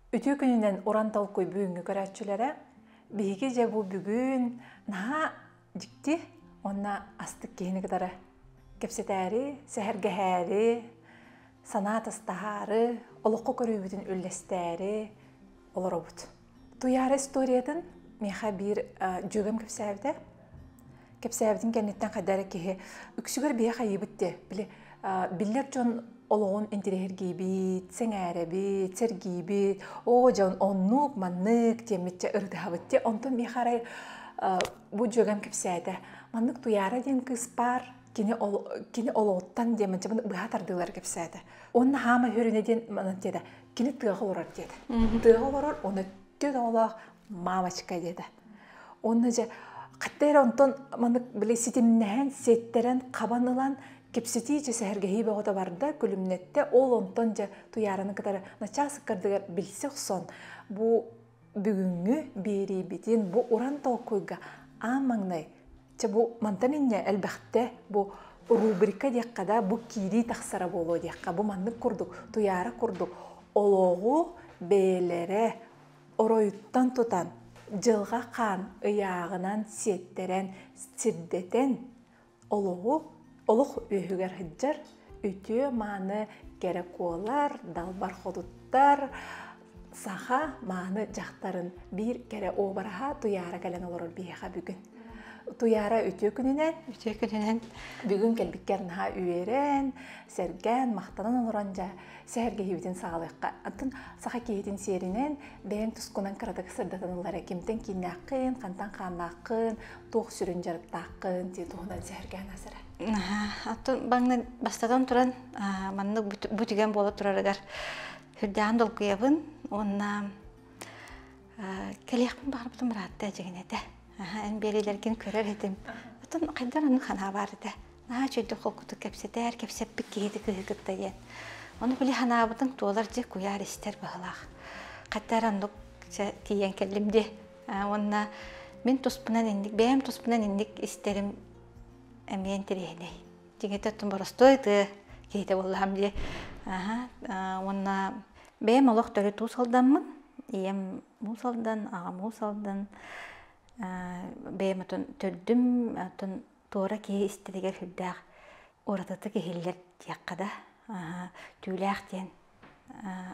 Үтүө күнүнэн уран толкуй бүгүҥҥү көрөөччүлэрэ биһиги дьэ бу бүгүн наһаа дьикти уонна астык киһини кытары кэпсэтээри, сэһэргэһээри, санаа атастаһаары, олоххо көрүүбүтүн үллэстээри олоробут. Туйаара историятын миэхэ биир дьүөгэм кэпсээбитэ. Кэпсээбитин кэнниттэн хайда эрэ киһи үксүгэр биһэх айыыбыт дии. Били биллэр дьон олоҕун интириэһиргиибит, сэҥээрэбит, сэргиибит, оо дьон оннук, маннык диэммитчэ ырытыһабыт дии. Онтон миэхэ арай бу дьүөгэм кэпсээтэ. Маннык Туйаара диэн кыыс баар, кини кини олоҕуттан диэммитчэ быһа тардыылары кэпсээтэ. Уонна хаама үһүрүнэ диэн манан диэтэ. кини тыаҕа олорор диэтэ. Тыаҕа олорор оны төрт оҕолоох мамочка диэтэ. Онно же хатта эрэ онтон маннык били ситимнэһэн, ситтэрэн, хабан ылан кипситии же сэһэргэһии бөҕөтө барда, күлүмнэттэ, ол онтон же туйаараны кытары начаас ыккардыгар билсе охсон бу бүгүҥҥү биэриибитин бу уран толкуйга аан маҥнай чэ бу мантан инньэ элбэхтэ бу рубрика диэххэ да бу киирии тахсара буолуо диэххэ бу маннык курдук туйаара курдук олоҕу бэйэлэрэ оройуттан тутан дьылҕа хаан ыйааҕынан сиэттэрэн сирдэтэн олоҕу олох үөһүгэр сылдьар үтүө-мааны кэрэ куолар далбар хотуттар саха мааны дьахтарын биир кэрэ уобараһа Туйаара кэлэн олорор биһиэхэ бүгүн. Туйаара үтүө күнүнэн. Үтүө күнүнэн. Бүгүн кэлбиккэр наһаа үөрэн, сэргээн, махтанан олорон дьэ сэһэргэһиибитин саҕалыахха. Антон саха киһитин сиэринэн бэйэҥ тускунан кыратык сырдатан ылара кимтэн кииннээххин, хантан хааннааххын, туох сүрүн дьарыктааххын дии туһунан сэһэргээн асара оттон баҥны бастатан туран маннык бу түгэн буола турарыгар үрдээн долгуйабын уонна кэлиэхпин баҕарбытым ыраатта дьигин этэ эн биэриилэргин көрөр этим оттон хайдар ону ханаа баар этэ наһаа чөйдүк холкутук кэпсэтээр кэпсэппит киһити кыһы кытта диэн ону били ханаабытын туолар дьэ куйаар истэр баһылаах хаттаар оннук тиийэн кэллим дии Уонна мин туспунан инник, бэйэм туспунан инник истэрим эмиэ интэриэһинэй. Дигэтэ оттон боростуой тыа киһитэ буоллаһам дии. Уонна бэйэм олох төрүт уус алдаммын. Ийэм уус алдан, аҕам уус алдан. Бэйэм отон төрдүм, отон туора киһи истэригэр сүрдээх уратытык иһиллэр диэххэ да. Түүлээх диэн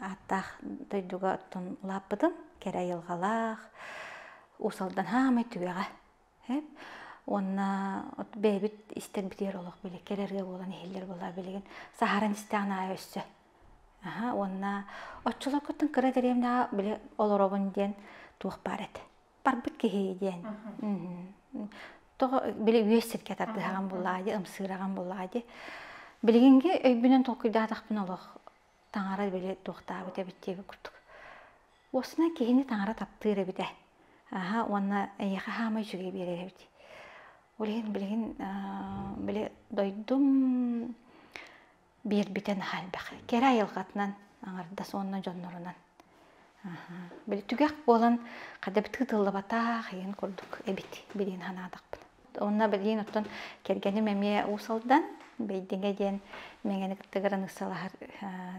ааттаах дойдуга оттон улааппытым кэрэ айылҕалаах уус алдан саамай түгэҕэ уонна бэйэбит истэрбитигэр олох били кэрэ ырыа буолан иһиллэр буоллаҕа билигин саһаран истэҕин аайы өссө уонна оччолоргуттан кыра дэриэбинэҕэ били олоробун диэн туох баар этэ барбыт киһи диэн. Тоҕо били үөс сиргэ тардыһаҕын буллаадьы, ымсыыраҕын буллаадьы. Билигинги өйбүнэн толкуйдаатахпына олох таҥара били туохтаабыт эбит диэги курдук. Уосна киһини таҥара таптыыр эбитэ. Аха уонна эйиэхэ хаамай үчүгэй биэрэр эбит. Ол иһин билигин били дойдум биэрбитэ наһаа элбэх кэрэ айылҕатынан аҥардас уонна дьоннорунан били түгэх буолан хадабытыы тыллабатаах иһин курдук эбит билиин санаатахпын онно билиин оттон кэргэним эмиэ уус алдан бэйдиҥэ диэн мэҥэни кытта граныссалаһар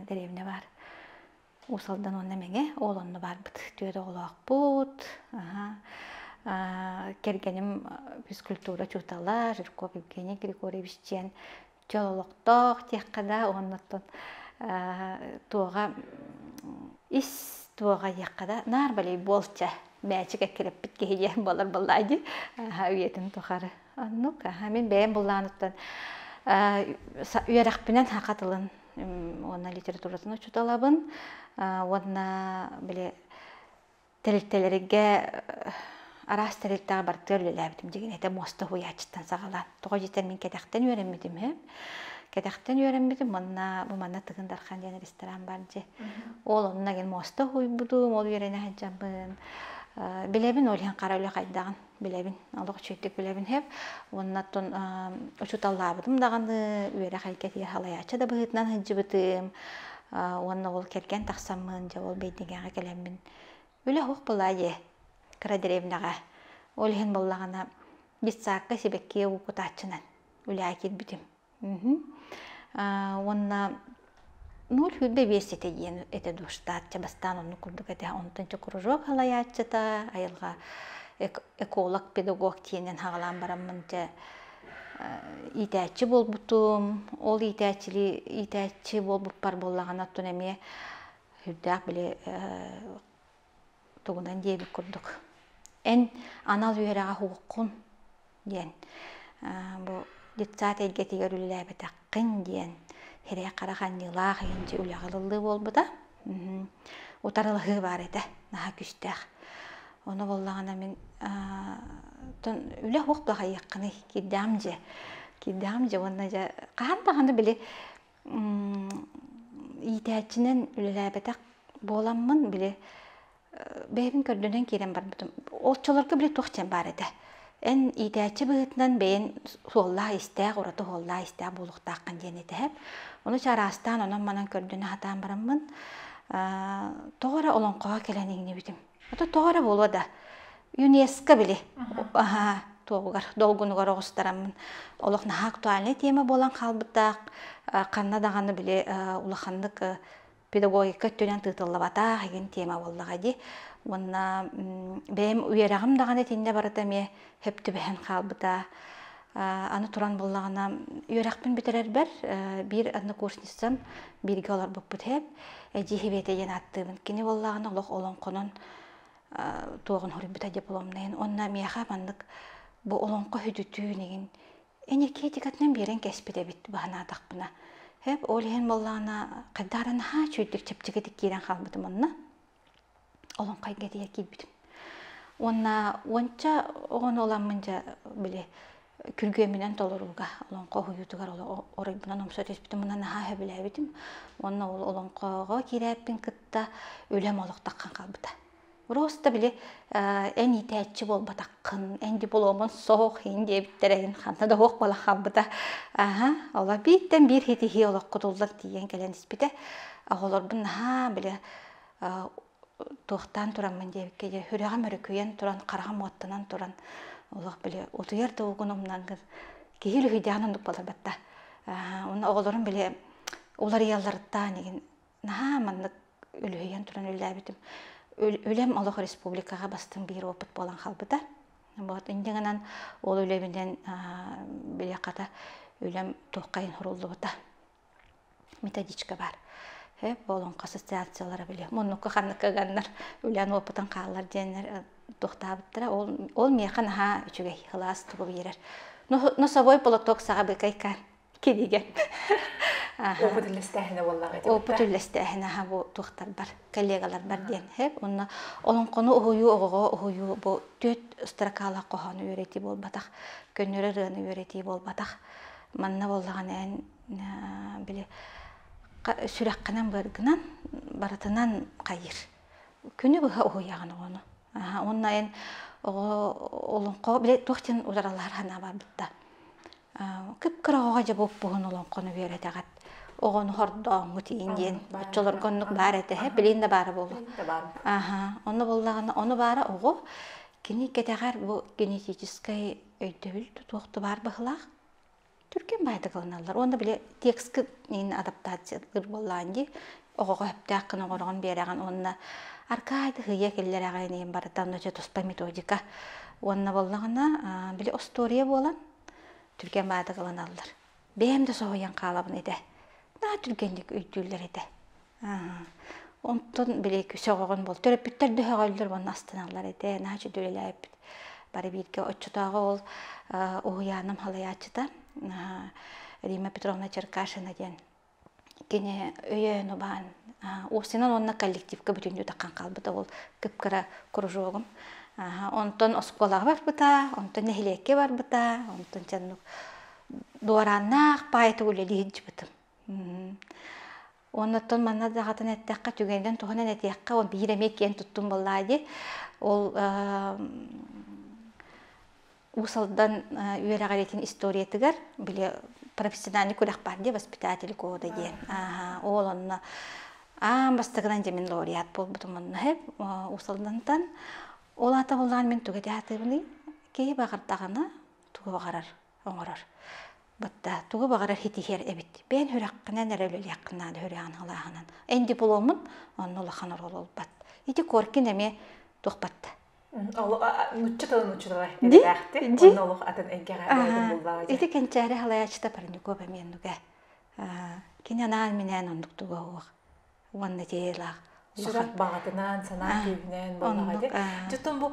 деревня баар уус алдан уонна мэҥэ уол онно баарбыт түөрт оҕолоохпут кэргэним физкультура учуутала жирков евгений григорьевич диэн Чөл олохтоох диэххэ да уоннаттан туоҕа ис туоҕа диэххэ да наар волейболча мээчик эккирэппит киһи диэн буолар буоллаа дии үйэтин тухары оннук мин бэйэм буллааныттан үөрэхпинэн саха тылын уонна литературатын учууталабын уонна били Тэрилтэлэргэ араас тэрилтэҕэ бартыгар үлэлээбитим дьигинэтэ муоста уһуйааччыттан саҕалаан. Тоҕо диэтэр мин кэтэхтэн үөрэммитим үһү. Кэтэхтэн үөрэммитим манна бу манна Тыгын Дархан диэн ресторан бар дьи. Ол онно мин муоста уһуйбутум, ол үөрэнэ сылдьабын. Билэбин ол иһин хара үлэ хайдаҕын. билэбин олох үчүгэйдик билэбин хэп уонна тон учуталлаабытым даҕаны үөрэхэйгэ тиэ халайааччы да быһыытынан сылдьыбытым уонна ол кэргэн тахсаммын дьэ ол бэйдигээҕэ кэлэммин үлэ оһох былаа дьэ кыра древнэҕэ ол иһин буоллаҕына детсадка сибэкки укутааччынан үлэҕэ киирбитим уонна ноль үрдэ биэс ситэ диэн этэ душтаатча бастаан онну курдук этэ онтон че кружок халаяччыта айылга эколог педагог тиэнен хагалаан бараммын че иитээччи буолбутум ол иитээччили иитээччи буолбуппар буоллаҕына оттон эмиэ үрдээх били тугунан диэбит курдук эн анал үөрэҕи аһуоххун диэн бу детсад эйгэтигэр үлэлээбэтэххин диэн сирэй-хара ханньыылаах иһинчи үлэҕэ ылыллыы буолбута утарылаһыы баар этэ наһаа күстээх ону буоллаҕына мин үлэ суох баҕайыаххыный кирдэҕим дьэ кирдэҕим дьэ уонна дьэ хаһан даҕаны били иитээччинэн үлэлээбэтэх буоламмын били бэйэбин көрдөнөн киирэн барбытым оччолорго били туох диэн баар этэ эн иитээччи быһыытынан бэйэн суоллаах-истээх ураты суоллаах-истээх буолуохтааххын диэн итэһэр ону чараастаан онон манан көрдөнө сатаан бараммын тоҕо эрэ олоҥхоҕо кэлэн иҥнибитим Ото тоҕо эрэ буолуо да, ЮНЕСКО били туоҕугар долгунугар оҕустараммын олох наһаа актуальнай тема буолан хаалбыта. Ханна даҕаны били улаханнык педагогика өттүнэн тыытыллыбатах игин тема буоллаҕа дии. Уонна бэйэм үөрэҕим даҕаны итиннэ барыта эмиэ һеп түбэһэн хаалбыта аны туран буллаҕына үөрэхпин бүтэрэрбэр биир однокурсницам бииргэ олорбуппут һеп эдьиий Хиветэ диэн ааттыыбын кини буоллаҕына олох олоҥхонон туоҕун хоруйбута дипломнайын онно миэхэ маннык бу олоҥхо хүтүтүүн игин энергетикатынан биэрэн кэспит эбит баһанаатахпына һеп ол иһин буоллаҕына хайдааран наһаа чүйдүк чэпчэкитик киирэн хаалбытым онно олоҥхойго тиийэ киирбитим уонна уонча оҕону ыламмын дьэ били күргүөмүнэн толорууга олоҥхо уһуйуутугар оройбунан умса түспүтүм мына наһаа сөбүлээбитим уонна ол олоҥхоҕо киирээппин кытта үлэм олох таххан хаалбыта просто били эн иитээччи буолбатаххын эн дипломун суох ин диэбиттэр эйин ханна да уох буола хаалбыта аха оло бииртэн биир хитиһии олох кутуллан тиийэн кэлэн испитэ оҕолорбун наһаа били туохтаан тураммын диэбиккэ дьэ сүрэҕим өрүкүйэн туран хараҕым уоттанан туран олох били утуйар да угун умнан киһи үлүһүйдэҕин оннук болорботто уонна оҕолорум били уларыйалларыттаан игин наһаа маннык үлүһүйэн туран үллээбитим үлэм олох республикаҕа бастыҥ биир опыт буолан хаалбыта вот инде гынан ол үлэбинэн били хата үлэм туоххайын суруллубута методичка баар э буолуҥха ассоциациялара били муннукка ханныкка ыганнар үлээн опытын хааллар диэннэр тохтаабыттара ол ол миэхэ наһаа үчүгэй ылаас тугу биэрэр носовой платок саҕа быкайкаан кинигэ опыт үллэстээһинэ буоллаҕа опыт үллэстээһинэ аха бу туохтарбар коллегаларбар диэн хэп онно олоҥхону уһуйуу оҕоҕо уһуйуу бу түөрт строкаалах хоһоону үөрэтии буолбатах көннөрө ырыаны үөрэтии буолбатах манна буоллаҕына эн били сүрэххинэн быаргынан барытынан хайыр күнү быһа уһуйаҕын оҕону уонна эн оҕо олоҥхо били туох диэн утаралаһар санаа барбыта кып-кыра оҕоҕо дьэ буоппуһун олоҥхону үөрэтэҕит оҕону хордооҥҥут иин диэн оччолорго оннук баар этэ һэ билин да баара буолуо аха онно буоллаҕына ону баара оҕо кини кэтэҕэр бу генетическэй өйдөбүл тутуох да баар баһылаах түргэн баайдыгаланаллар уонна били текстка инна адаптациялыыр буоллаан дии оҕоҕо сөптөөх гына оҥороҕун биэрэҕин уонна аркаай тыһыйа киллэрэҕин иһин барыта нөчө туспа методика уонна буоллаҕына били остуоруйа буолан түргэн баайдыгаланаллар бэйэм да соһуйан хаалабын этэ naa түргэнник өйдүүллэр этэ Онтон били сөҕөҕүн буол төрөппүттэр да сөҕөллөр уонна астаналлар ити наачча үлэлээбит бары бииргэ оччотооҕу ол уһуйааным халайааччыта Рима Петровна Черкашина диэн кини өйөөн убаан Осинан уонна коллективка бүтүннүү таххан хаалбыта ол кып-кыра кружогум онтон оскуолаҕа барбыта онтон нэһилиэккэ барбыта онтон дьоннук дуорааннаах паайта үлэлии сылдьыбытым Оннуттан манна даҕатан эттэххэ түгэнинэн туһанан этиэххэ ол биир эмиэ киэн туттум буоллаа дии ол уус алдан үөрэҕириитин историятыгар били профессиональный күрэх баар дии воспитатель года диэн ол онно аан бастакынан дьэ мин лауреат буолбутум онно уус алдантан ол аата буоллаҕа мин тугу этэ сатыыбыный киһи баҕардаҕына тугу баҕарар оҥорор. Бытта тугу баҕарар ситиһиэр эбит. Бэйэн сүрэххинэн эрэ үлэлиэххинэ үһүрүһэҕин халааһынан. Эн дипломмун онно улахан оруол ылбат. Ити Коркин эмиэ туохпат нучча тыл нучча тылай эбэлээхтик онно олох атын эйгэҕэ ити кэнчээри халаачыта парников эмиэн нуга кини анаан минээн оннук туга уох уонна тиэлээх сүрэх баҕатынан санаа күүһүнэн буолаҕа ди дьоттон бу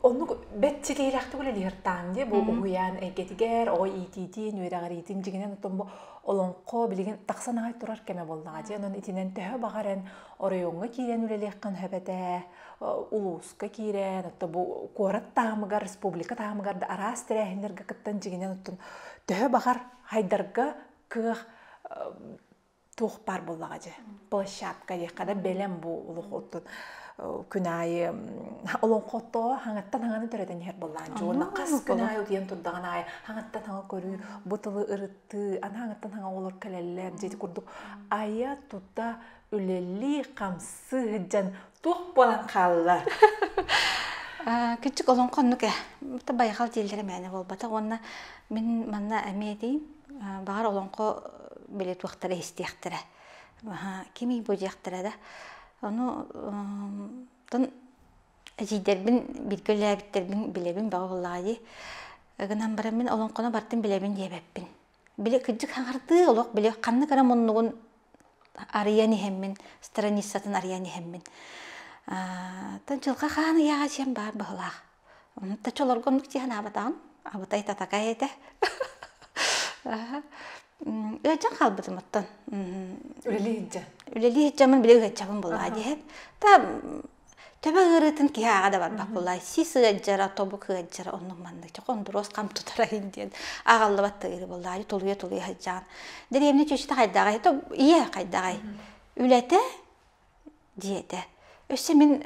оннук бэччилиилэхтик үлэлиһэртаан ди бу уһуйаан эйгэтигэр оҕо иитиитин үөрэҕириитин дьиҥинэн оттон бу олоҥхо билигин тахсан аҕай турар кэмэ буоллаҕа ди онон итинэн төһө баҕар эн оройуоҥҥа киирэн үлэлиэххин сөбөтө улууска киирэн отто бу куорат таамыгар республика таамыгар да араас тэрээһиннэргэ кыттан дьиҥинэн оттон төһө баҕар хайдарга кыах туох баар буоллаҕа дьэ площадка диэххэ да бэлэм бу олох оттон күн аайы олоҥхоттоо хаҥаттан хаҥаны төрөтөн иһэр буоллаан дьуона хас күн аайы утуйан турдаҕын аайы хаҥаттан хаҥа көрүү бу тылы ырыттыы ана хаҥаттан хаҥа оҕолор кэлэллэр дьиэти курдук айа тута үлэлии хамсыы сылдьан туох буолан хаалла? Кичик олон хоннук э. Та байхал дииллere мээнэ буолбатах уонна мин манна эмиэ диим баҕар олоҥхо биле туохтара истиэхтэрэ кимий бу диэхтэрэ да ону тон эдьийдэрбин биргэ үлээбиттербин билэбин баҕа буллаҕа дии гынан баран мин олоҥхону бартын билэбин диэбэппин били кырдьык хаҥартыы олох били ханнык эрэ муннугун арыйан иһэммин страницатын арыйан иһэммин тан дьылҕа хаан ыйааҕа диэн баар быһылаах онно чолорго оннук дии санаабатаҕым абытай татакай этэ ыалдьан хаалбытым оттон үлэлии сылдьаммын били ыалдьабын былаа диэһэн та Төбө ыарыытын киһи ааҕа да барбат буолла. Сис ыалдьара, тобук ыалдьара оннук маннык. Чох ондуруос хам тутарайын диэн аҕаллыбат тыыры буолла. Аайы тулуйа-тулуйа сылдьаан. Дэриэбинэ чүчүтэ хайдаҕай? То ийэ хайдаҕай? Үлэтэ, дьиэтэ. Өссө мин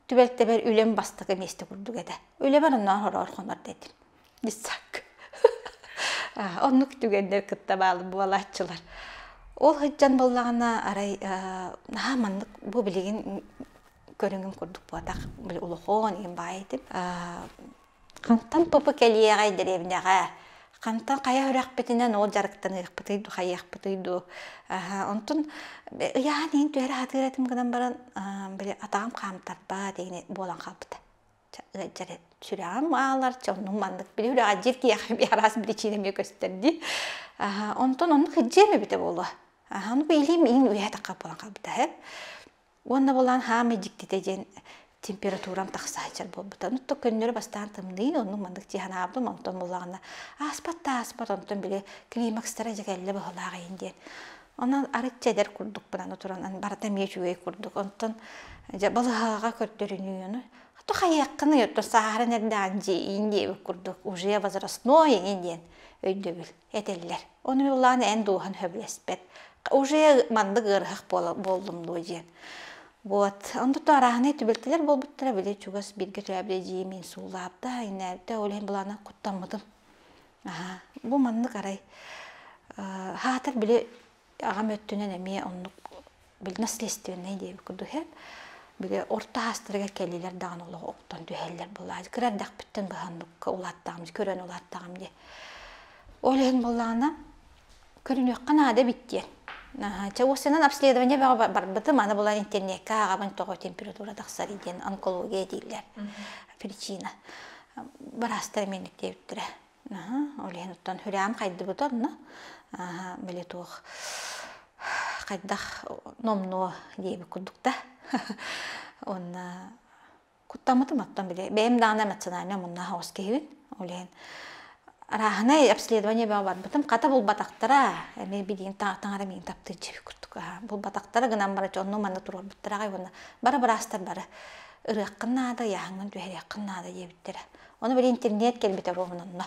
түбэлтэбэр үлэм бастакы миэстэ курдук этэ. Үлэбэр онно хороор хонор да этим. Бисsak. Оннук түгэннэр кытта баал буолааччылар. Ол сылдьан буоллаҕына, арай наһаа маннык бу билигин көрүҥүм курдук буотах били олохоон иһин баай этим. Хантан тупу кэлиэҕэй дэриэбинэҕэ? Хантан хайа үрэхпитинэн ол дьарыктаныахпытый дуу, хайыахпытый дуу? Онтон ыйаан иһин түһэрэ сатыыр этим гынан баран, били атаҕым хаамтарбаат буолан хаалбыта. сүрэҕим аалар оннум маннык били үрэҕирдиир киһиэхэ араас причина эмиэ көстөр дии онтон ону кырдьыам эбитэ буолуо ону билим иин үйэ тахха буолан хаалбыта үһэ уонна булан хаамай дьиктитэ диэн температурам тахсаачар буолбута ну то көннөрү бастаан тымныйын онну маннык дьиһанаабытым онтон булаҕына ааспат да ааспат онтон били климакстара дьэ кэллэ быһылаах иин диэн Онон арыт эдэр курдук бынан туран барыта эмиэ үчүгэй курдук. Онтон дьэ балаһаҕа көрдөрүнүүнү то хайыаххын то сааһыран эрдэҕин дьииин диэбит курдук уже возрастной ини диэн өйдөбүл этэллэр. Ону улаан эн дууһан сөбүлэспэт. Уже маннык ыарыһах буоллум дуо диэн. Вот. Онтуттан арааһынай түбэлтэлэр буолбуттара били чугас бииргэ төрөөбүт эдьиийим мин суулаабыта, иннээбитэ ол иһин былаана куттаммытым. Аһаа, бу маннык арай. Хаатар били аҕам өттүнэн эмиэ оннук билинэ следственнэй диэбит курдук иһэ. Били орто аастарыгар кэллилэр даҕаны олох оттон түһэллэр былаһа. Кыра эрдэхпиттэн быһанныкка улааттаҕым, көрөн улааттаҕым дии. Ол иһин буоллаҕына көрүнүөххэ наада эбит диэн. Чэ, уоссанан обследование бөҕө барбытым, аны була интернекка ааҕабын тоҕо температура тахсарый диэн онкология дииллэр. Причина. Быраастар мэнниктээбиттэрэ. Олен оттон хүрэм хайдыбыт онно. Били туох хайдах номнуо диэбит курдук да. Онно Куттаммытым оттон били бэйэм даана эмоциональнай омуннаа хаҕыс киһибин ол иһин арааһынай обследование бөҕө барбытым хата булбатахтара эмиэ билигин таҥара миигин таптыыччыбит курдук аһа булбатахтара гынан бараччы онну манна туруорбуттара аҕай уонна бара быраастар бары ырыаххын наада ыйааһыҥҥын түһэриэххин наада диэбиттэрэ ону били интернет кэлбитэ оруобун онно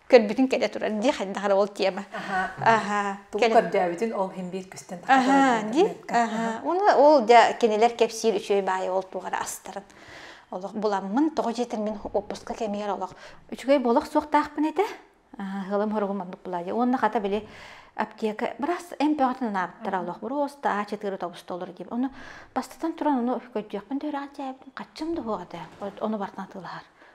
көрбүтүн кэлэ турар дии хайдах эрэ ол тема аха тугу көрдөөбүтүн ол химбиит күстэн аха дии аха уну ол дьа кинилэр кэпсиир үчүгэй баайы ол тугара астарын олох буламмын тоҕо дьиэтэрмин оппуска кэмигэр олох үчүгэй болох суохтаахпын этэ хылым хоругум маннык булаайы уонна хата били аптека бырас эмпөҕөтүн анаабыттара олох буруоста а четыре тобустолор дип ону бастатан туран ону көрдүөхпүн дөрөҕ дьээбитин хаччым да хуоҕа оны бартан тылаһар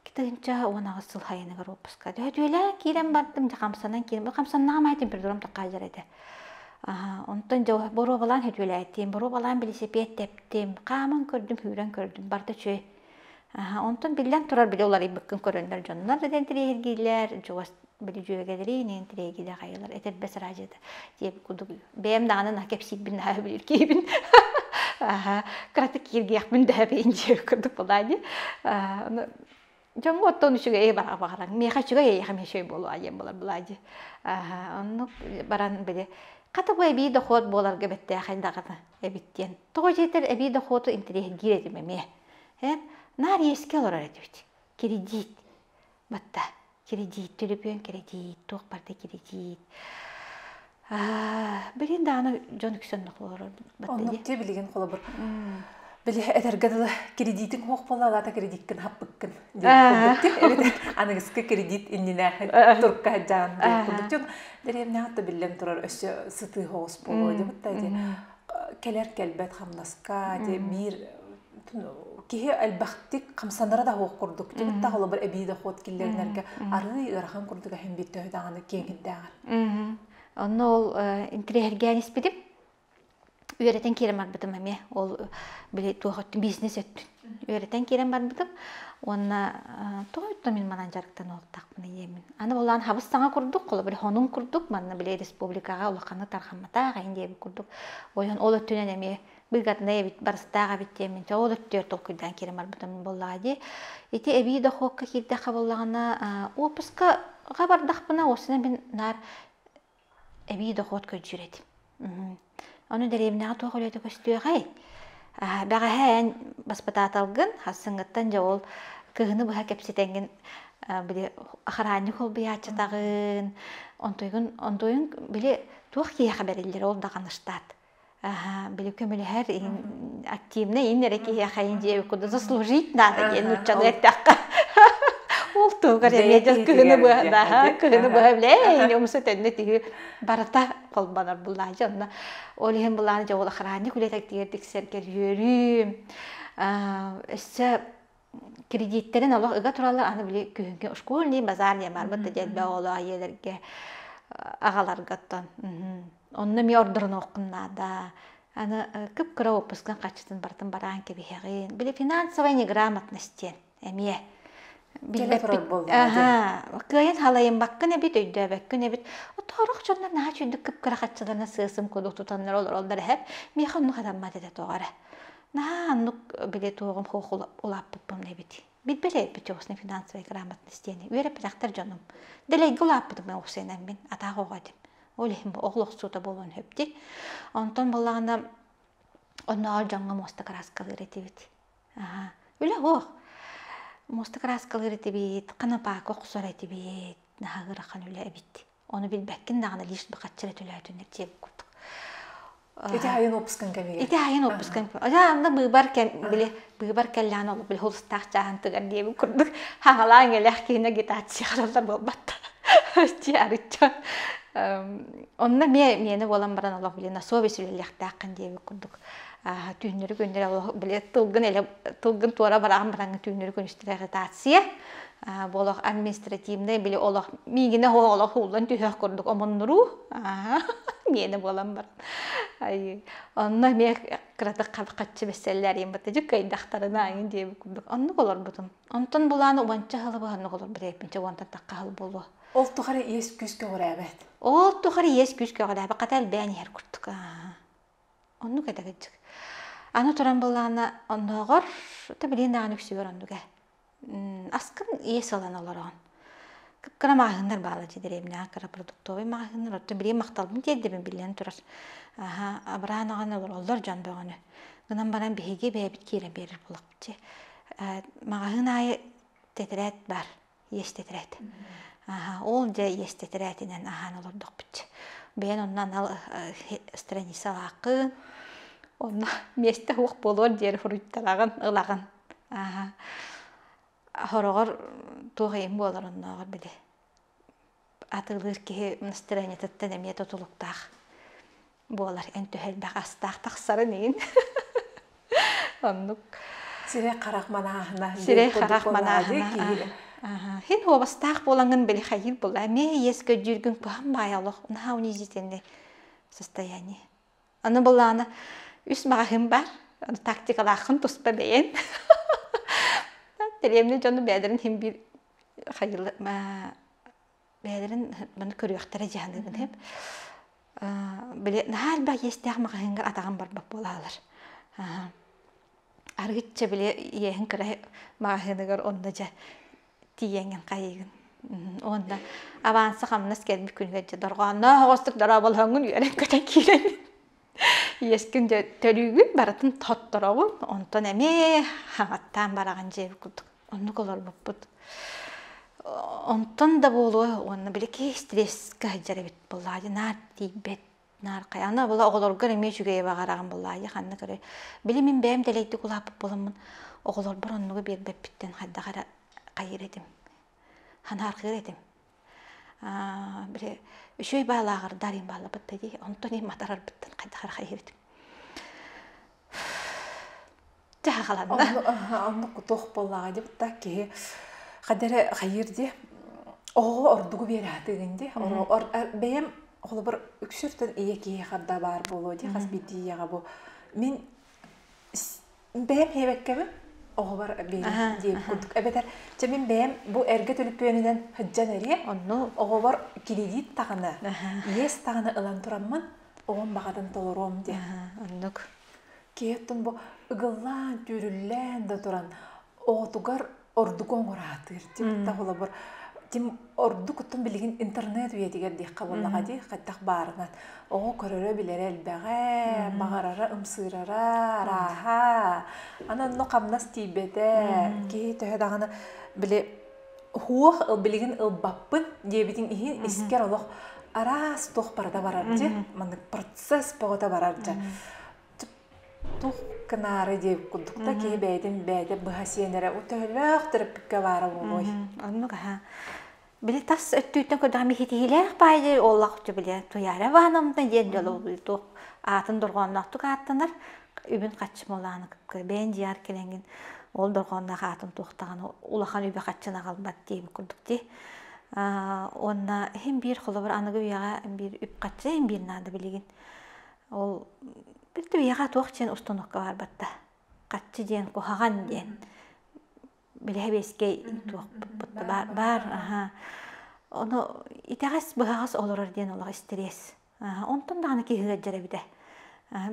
Икки тыһыынча уон аҕыс сыл хайыныгар уоппуска. Дьүһүдүөлээ киирэн бардым, дьэ хамсанан киирэн. Хамсаннаҕым айдым бір дурам тахаалар этэ. Онтон дьэ боруобалаан хөдүөлээтим, боруобалаан билисипиэт тэптим, хааман көрдүм, сүүрэн көрдүм, барда үчүгэй. Онтон биллэн турар били уларыйбыккын көрөннөр дьоннор да интэриэһиргииллэр, бөлүдьүөгэлэри инин тирэгиде хайылар этэрбэс араажыта тиэп кудук бэйэм даҕаны на кепсиирбин наһаа билир киһибин аха каты кииргиэхмин дэһэбейин диэ курдук былаани дьоҥҥо оттон үчүгэй бара баҕаран миэхэ үчүгэй эйэхэ мешөй буолуа диэн болар былаадьы оннук баран били хата бу эбии дохуот буоларга бэттээхин даҕана эбит диэн тоҕо дьиэтэр эбии дохуоту интэриэһиргиир этим эмиэ эн наар иэскэ олорор этибит кредит Батта кредит, төлөпүөн кредит, туох барда кредит. Билин даана дьон үксөннөх олорор батта Оннук те билигин холобур. Били этэргэ дылы кредитиң хуох буола алаата кредиккин хаппыккын аныгыскы кредит иннинээхи турка хаджаан курдук дэриэмнээх да биллэн турар өссө сытыы хоҕус буолуо дебутта де келер келбет хамнаска де биир киһи элбэхтик хамсанара да хоох курдук кибит да холобур эбии дохуот киллэринэргэ арыы ыарахан курдук эһим бит төһө даҕаны киэҥиттээҕэр онно ол интириэһиргээн испитим үөрэтэн киирэн барбытым эмиэ ол били туох өттүн бизнес өттүн үөрэтэн киирэн барбытым уонна тоҕо өттө мин манан дьарыктан олортахпын ийэбин аны болаан хабыс саҥа курдук холобур хонуҥ курдук манна били республикаҕа улаханнык тархамматах эйин диэбит курдук ойон ол өттүнэн эмиэ быгатнай эбит барыстаах эбит диэмин че ол өттүгэр толкуйдаан киирэн барбытым буоллаҕа дии ити эбии дохуокка киирдэххэ буоллаҕына уоппускаҕа бардахпына осина мин наар эбии дохуот көдьүүр этим ону дэриэбинэҕэ туох үлэтэ көстүөҕэй бэҕэһээ эн баспытааталгын хассыҥҥыттан дьэ ол кыһыны быһа кэпсэтэҥҥин били ахараанньык холбуйааччытаҕын онтуйгун онтуйун били туох киһиэхэ бэриллэр ол даҕаны штат Ага, били көмөлөһөр иһин активнай ин эрэ киһиэхэ дьиэби куда заслужить наада диэн нууччалыы эттэххэ ол туһугар эмиэ дьыл кыһыны быһа да кыһыны быһа билээ омсу төннө тиһи барыта холбонор буллаа дьэ онно ол иһин булааны дьэ ол охранник үлэтиттигэр тиксэргэр үөрүүм өссө кредиттэрин олох ыга тураллар аны били күһүҥкү школьный базар диэн барбыт да диэт оҕолор айыылэргэ аҕаларгаттан онно эмиэ ордоронуоххун наада аны кып-кыра уоппускан хаччытын бартын бараан кэбиһэҕин били финансовая неграмотность диэн эмиэ кыайан халайымбаккын эбит өйдөөбөккүн эбит оторох дьоннор наһаа чүйдүк кып-кыра хаччыларына сыасым кулу тутаннар олороллор эһэр миэхэ онну хатаммат этэ тоҕо эрэ Наһаа аннык билетуоҕум хоох улааппыппын эбит. Билбэлээбит охсуна финансовай грамотный стены. Үөрэппэтэхтэр дьонум. Дэлэйгэ улааппытым мен охсуйанаммин. Атаах оҕо этим. Ол иһин бу оҕол охсуута буолуон сөптүк. Онтон буллаҕына оннооҕор дьоҥҥо муоста кырааскалыыр этибит. Аһа. Үлэ оһох. Муоста кырааскалыыр этибит, канапака охсор этибит. Наһаа ыарахан үлэ эбит. Оны билбэккин даҕаны лишь бы хаччары төлөөтүннэр диэбит курдук. Ити айын опускан кэмигэр. Ити айын опускан кэмигэр. Ожа анда быыбар били быыбар кэллээн ол били хулустаах жаһантыгар диэбит курдук хаҥалаан элэх киһинэ гитация хараллар буолбатта. Чи арычча. Онна ме мені болан баран олох били на совесть үлэлэхтээххин диэбит курдук. Түүннөрү күннэри олох били тылгын эле тылгын туора бараан бараҥы түүннөрү күн үстүлэ агитация Болох административный били олох миигине олох ууллан түһэх курдук омуннуруу миэнэ буолан бар айы онно миэ кыратык хатчы бэсселлээриин баттажык кайдахтарына айын диэбит курдук оннук олорбутум онтон булааны убанча халы баһаннук олорбут эппинче уонта такка хал болуо ол тухары иэс күүс көҕүрээбэт ол тухары иэс күүс көҕүрээбэт хата элбээн иһэр курдук оннук этэгитчик аны туран булаана оннооҕор та билиэн даҕаны үксүгэр оннуга Аскын иэс ылан олороон. Кып-кыра маҕаһыыннар баалар дии дэриэбинэҕэ кыра продуктовай маҕаһыыннар. Оттон билигин махталбын тиэрдэбин биллэн турар. Аһа, абыраан аҕаны олороллор дьон бөҕөнү. Гынан баран биһиги бэйэбит киирэн биэрэр буолабыт дии. Маҕаһыын аайы тэтэрээт баар, иэс тэтэрээт. Аһа, ол дьэ иэс тэтэрээтинэн аһаан олордохпут. Бэйэн онно анал страницалааххын. Онно миэстэ суох буолуор диэри суруйталаҕын, ылаҕын. Ааһа. Сороҕор туох ийэҥ буолар оннооҕор били атыылыыр киһи настроениетыттан эмиэ тутулуктаах буолар. Эн төһө элбэх астаах тахсарын иһин оннук. Сирэй-харах манааһына сирэй-харах манааһына син уобастаах буолаҥын били хайыыр буолла эмиэ иэс көдьүүргүн туһан баайа олох наһаа унизительнай состояние Аны былаана үс маҕаһыын бар, аны тактикалааххын туспа бэйэн. Дэриэбинэ дьоно бэйэлэрин иһин биир хайыла бэйэлэрин маны көрүөхтэрэ дьаһаныгын сөп. Били наһаа элбэх иэстээх маҕаһыыҥҥа атаҕын барбат буолаалар. Арыгычча били иэһин кыра маҕаһыыныгар онно дьэ тиийэҥин хайыгын уонна аванса хамнас кэлбит күнүгэр дьэ дорҕоонноох оҕустук дорооболоҥҥун үөрэн көтөн киирэн иэскин төрүүгүн барытын тоттороҕун онтон эмиэ хаҥаттаан бараҕын дьиэбит курдук оннук олорбуппут онтон да буолуо уонна били стресскэ сылдьар эбит буоллаҕа наар тиийбэт Нааркай, аны была оҕолоргор эмиэ үчүгэйи баҕараҕын булаайы ханна көрө. Били мин бэйэм дэлэйдик улааппыт буоламмын, оҕолорбор оннугу биэрбэппиттэн хайдах эрэ хайыр этим. Ханаархыыр этим. Аа, били үчүгэй баалааҕар даарыйын бааллабыт да дии, онтон ин матарарбыттан хайдах эрэ хайыр этим. Онно кутуох буоллаҕа дебатта киһи хадere хайыр ди оҕо ордугу биэрәтигин ди бэйэм холобур үксүртэн ийэ киһи харда баар болуо ди хас битиияга бу мин бэйэм хиэбэккэбин оҕобар биэрис ди курдук эбэтэр чэ мин бэйэм бу эргэ төлүппүөнүнэн һыддьан эриэ онну оҕобор кредит тагына иэс тагына ылан тураммын оҕом баҕатын толоруом ди оннук киэттэн бу ыгыллаан түүрүллээн да туран оҕотугар ордуку оҥураатыыр тим таһылабар тим ордукуттун билигин интернет үйэтигэр диэххэ буоллаҕа дии хайдах баарынан оҕо көрөрө билэрэ элбэҕэ баҕарара ымсыырара арааһа аны онно хамнас тиийбэтэ киһи төһө даҕаны били Хуох билигин ылбаппыт диэбитин иһин искэр олох араас туох барыта барар дьэ маннык процесс бөҕөтө барар дьэ туох гынаары диэбит курдук да киһи бэйэтин бэйэтэ быһа сиэн эрэ төһөлөөх төрөппүккэ баара буолуой оннук аһа били тас өттүттэн көрдөҕүм иһитиһиилээх баайдый олох дьэ били Туяра Ивановна диэн дьол туох аатын дорҕоонноохтук ааттанар үбүн хаччымалаан бэйэн дьиар кэлэнгин ол дорҕоонноох аатын туохтаҕына улахан үбэ хаччын аҕалбат диэбит курдук дии уонна иһин биир холобур аныгы үйэҕэ биир үп хачча иһин биир наада билигин ол бирдэ үйэҕэ туох диэн установка барбатта хаччы диэн куһаҕан диэн билэһэбиэскэй туохпут баар баар аха ону итэҕэс быһаҕас олорор диэн олох истириэс Онтон даҕаны киһи сылдьар эбитэ.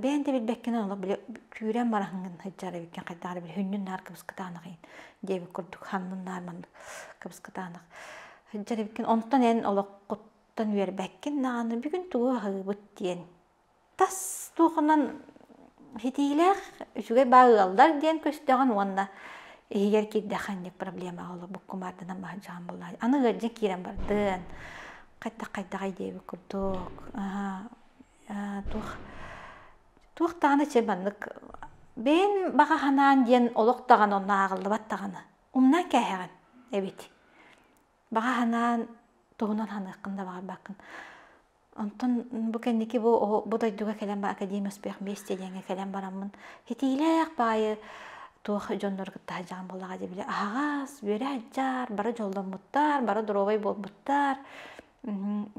Бэйэҥ да билбэккинэ олох били күүрэн бараһын гын сылдьар эбиккин хайдах эрэ били хүннүн наар кыбыскытаанах иһин диэбит курдук ханнын наар маннык кыбыскытаанах сылдьар эбиккин онтон эн олоххуттан үөрбэккин даҕаны бүгүн тугу аһыыбыт диэн тас туохунан Ситиилээх үчүгэй баа ыалдар диэн көстөҕүн уонна иһигэр киирдэх ханнык проблемаҕа олорбут кумаардынан баһырдьаҕын буоллаҕа. Аны ыалдьан киирэн бардын, хайдах-хайдах эйдээбит курдук, туох туох даҕаны чэ маннык бэйэн баҕа санаан диэн олох даҕаны онно ааҕыллыбат даҕаны умнан кээһэҕин эбит. Баҕа санаан туһунан саныаххын да баҕарбаккын. Онтон бу кэнники бу бу дойдуга кэлэн баран Академия успех вместе диэҥҥэ кэлэн бараммын китиилээх баайы туох дьоннору кытта сылдьаҕын буоллаҕа дии били аһаҕас үөрэ адьдьаар бары дьолломмуттар бары доруобай буолбуттар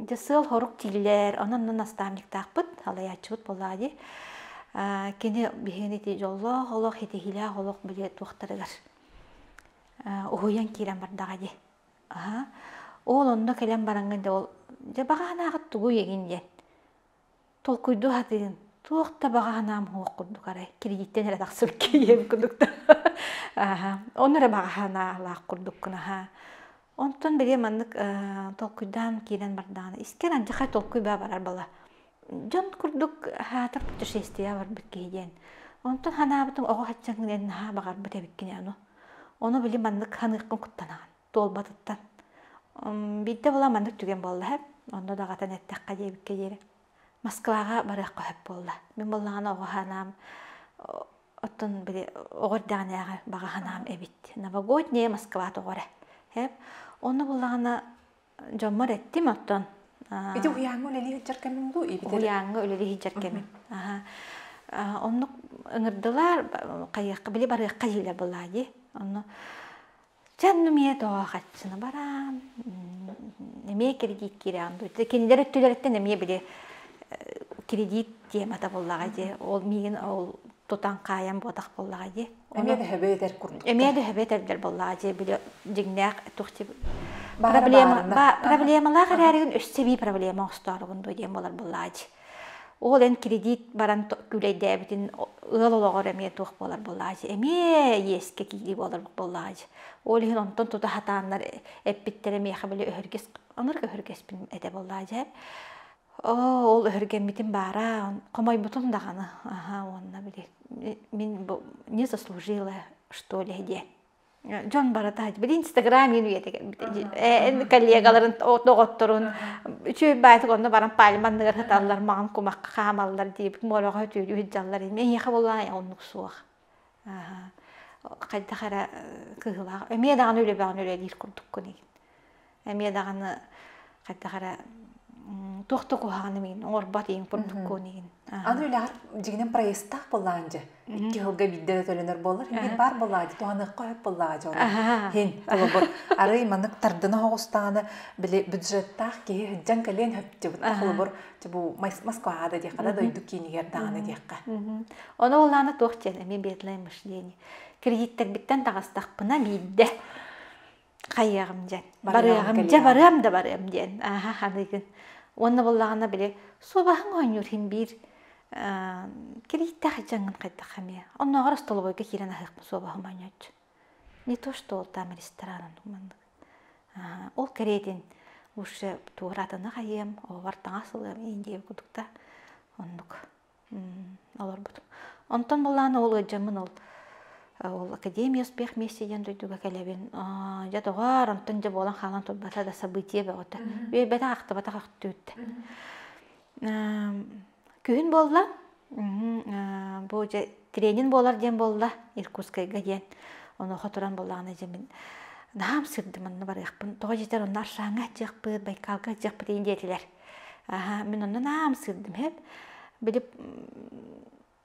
дьэ сыал-сорук тиийлилэр онон онно наставниктаахпыт салайааччыбыт буоллаҕа дии кини биһигини ити дьоллоох олох итиһиилээх олох били туохтарыгар уһуйан киирэн бардаҕа дии Аһа, ол онно кэлэн бараҥҥа да ол дьэ баҕаһынаахыт тугу иэгин диэн толкуйдуу сатыын туох да баҕаһынаам суох курдук арай кредиттэн эрэ тахсыбыт киһиэм курдук да аһа ону эрэ баҕаһынаалаах курдук кунаһа онтон бэлиэ маннык толкуйдаан киирэн бардаҕына искэр алдьархай толкуй баа барар бала дьон курдук аһаатар путешествияҕа барбыт киһи диэн онтон санаабытым оҕо хаччаҥҥын эн наһаа баҕарбыт эбиккин аны ону били маннык саныыркын куттанаҕын туолбатыттан биирдэ була маннык түгэн буолла эб онно даҕатан эттэххэ диэбиккэ диэри москваҕа барыахха сөп буолла мин буоллаҕына оҕо санаам оттон били оҕо эрдэҕинээҕи баҕа санаам эбит новогоднее москва тоҕо эрэ эб онно буоллаҕына дьоммор эттим оттон ити уһуйааҥҥа үлэлии сылдьар кэмим дуу уһуйааҥҥа үлэлии сылдьар кэмим оннук ыҥырдылар хайыахха били барыахха диилэр былаадьы онно чэн эмиэ тоохаччыны бараан эмиэ кредит киирэҕин дуу кинилэр өттүлэриттэн эмиэ били кредит тиэмэтэ буллаҕа дии ол миигин ол тутан хаайан буотах буоллаҕа дии. Эмиэ дэһэбэ этэр курдук. Эмиэ дэһэбэ этэрдэр буоллаҕа дии, били дьиҥнээх тухти проблемалаах эрээригин өссө бии проблема оҥостоорубун дуу диэн буолар буоллаҕа дии. Ол эн кредит баран күүлэйдээбитин ыал олоҕор эмиэ туох буолар буоллаҕа дии. Эмиэ иэскэ киирии буолар буоллаҕа дии. Ол иһин онтон тута сатааннар эппиттэрэ миэхэ били өһүргэс онорг өһүргэспин этэ буоллаҕа дии. Оо, ол өһүргэммитим баара, хомойбутум даҕаны. Аһа, уонна били мин бу не заслужила, что ли, диэн. Дьон барыта били инстаграм мин үйэтэ кэлбитэ. Коллегаларын доҕотторун үчүгэй баайытык онно баран пальманныгар сыталлар, маҕан кумахха хаамаллар диэбит, мороҕо үтүөрүү сылдьаллар. Миэхэ буолаайа оннук суох. хайдах эрэ кыһылаах эмиэ даҕаны үлэбэҕин үлэлиир курдуккун игин эмиэ даҕаны хайдах эрэ туох да куһаҕан имигин оҥорбот иин курдуккун игин аны үлэҕэр дьигинэн проездтаах былаан дьэ икки сылга биирдэ да төлөнөр буолар иһин баар былаа дьэ туһаныахха сөп былаа дьэ иһин холобур арый манык тардына оҕустаҕына били бюджеттаах киһи сыдьан кэлиэн сөптүбүт холобур бу Москваҕа да диэххэ да дойду киинигэр даҕаны диэххэ. Ону олаана туох диэн эмиэ бедлай мышление. Кредиттэрбиттэн таҕыстахпына биирдэ хайыаҕым диэн барыаҕым дьэ барыам да барыам диэн ааһа аныгын уонна буоллаҕына били суобаһын оонньуур хин биир кредиттэх дьаҥын хайдах эмиэ оннооҕор остолобуойга киирэн аһыахпын суобаһым оонньооччу не то что там ресторанын маннык ол кэриэтин лучше туоратыны хайыам оҕобор таҥас ылыам иин диэбит курдук оннук олорбутум онтон былаан ол ыалдьаммын ол ол академия успех вместе диэн дойдуга кэлэбин дьэ доҕоор онтон дьэ буолан хаалан турбата да событие бөҕөтө үөйбэтэх ахтыбатах ахтыыт Күһүн буолла, бу дьэ тренин буолар диэн буолла Иркутскайга диэн. Онуоха туран буоллаҕына дьэ мин наһаа ымсыырдым онно барыахпын. Тоҕо диэтэр онно аршааҥҥа ытдьыахпыт, Байкалга ытдьыахпыт иһин диэтилэр. Аһа, мин онно наһаа ымсыырдым эһэм. Били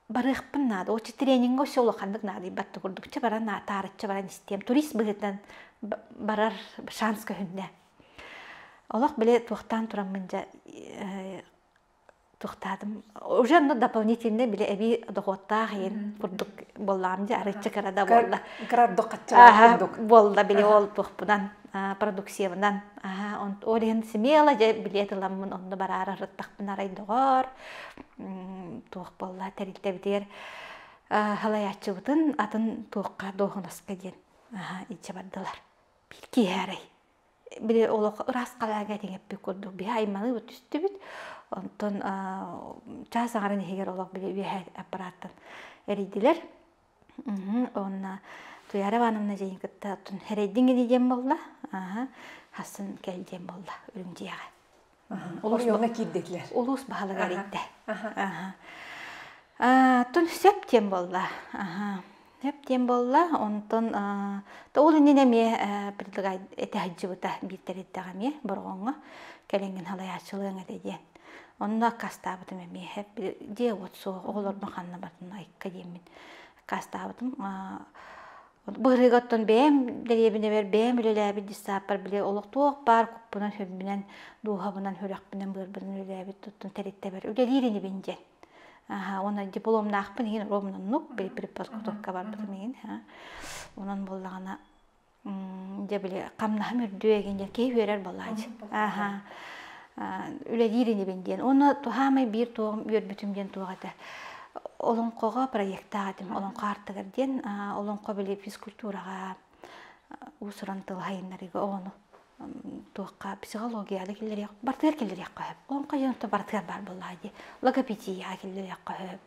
барыахпын наада, оччо трениҥҥэ өссө улаханнык наадыйбат да курдук. Чэ баран таарыччы баран истиэм, турист быһыытынан барар шанс көһүннэ. Олох били туохтаан тураммын дьэ Тохтаатым уже ну дополнительно били эбии дохуоттаах иһин курдук буоллаам дии арыычча кыра да буолла кырардык хаччылаах курдук буолла били ол туохпунан продукциябынан аха ол иһин смело дьэ билиэт ыламмын онно бараары ырыттахпын арай доҕоор туох буолла тэрилтэбитигэр халайааччыбытын атын туохха дуоһунаска диэн аха иччэ бардылар биир киһи арай били олох ырааскалаага этиҥэппит курдук биһи айманыыбыт түстүбүт онтон чаас аҥарын иһигэр олох били үөһэ аппарааттан эрийдилэр уонна туйаара ивановна дьиэни кытта оттон эрэйдиҥ ини диэн буолла аһа хассын кэл диэн буолла үрүмдьүйэҕэ Олоҥхоҕо киирдилэр. Улуус баһылыга эрийдэ. Тун сөп диэн буолла. Сөп диэн буолла. Онтон ол иннинэ эмиэ предлагай этэ сылдьыбыта бииртэриттэҕэ эмиэ Бороҕоҥҥо кэлиҥҥин халайааччылыаҥ этэ диэн. Онно аккаастаабытым эмиэ. Дьиэ-уот суох, оҕолорбун ханна бардын айка диэммин аккаастаабытым. Быһыыгаттан бэйэм дэриэбинэбэр бэйэм үлэлээбит дьыссааппар били олохтоох баар куппунан-сүрбүнэн, дууһабынан, үрэхпинэн, быарбынан үлэлээбит оттон тэрилтэбэр үлэлиир инибин диэн. Аһа, уонна дипломнаахпын иһин ромнуннук преподготовка барбытым иһин. Онон буоллаҕына дьэ били хамнаһым үрдүө эгин дьэ киһи үөрэр балаадьа. Аһа. үлэлиир инибин диэн уонна туһаамай биир туоҕум үөрбүтүм диэн туох этэ олоҥхоҕо проектаах этим олоҥхо аартыгар диэн олоҥхо били физкультураҕа уус-уран тыл сайыннарыыга оҕону туохха психологияҕа киллэриэх барытыгар киллэриэххэ сөп олоҥхо дьонто барытыгар баар буоллаҕа дии логопедияҕа киллэриэххэ сөп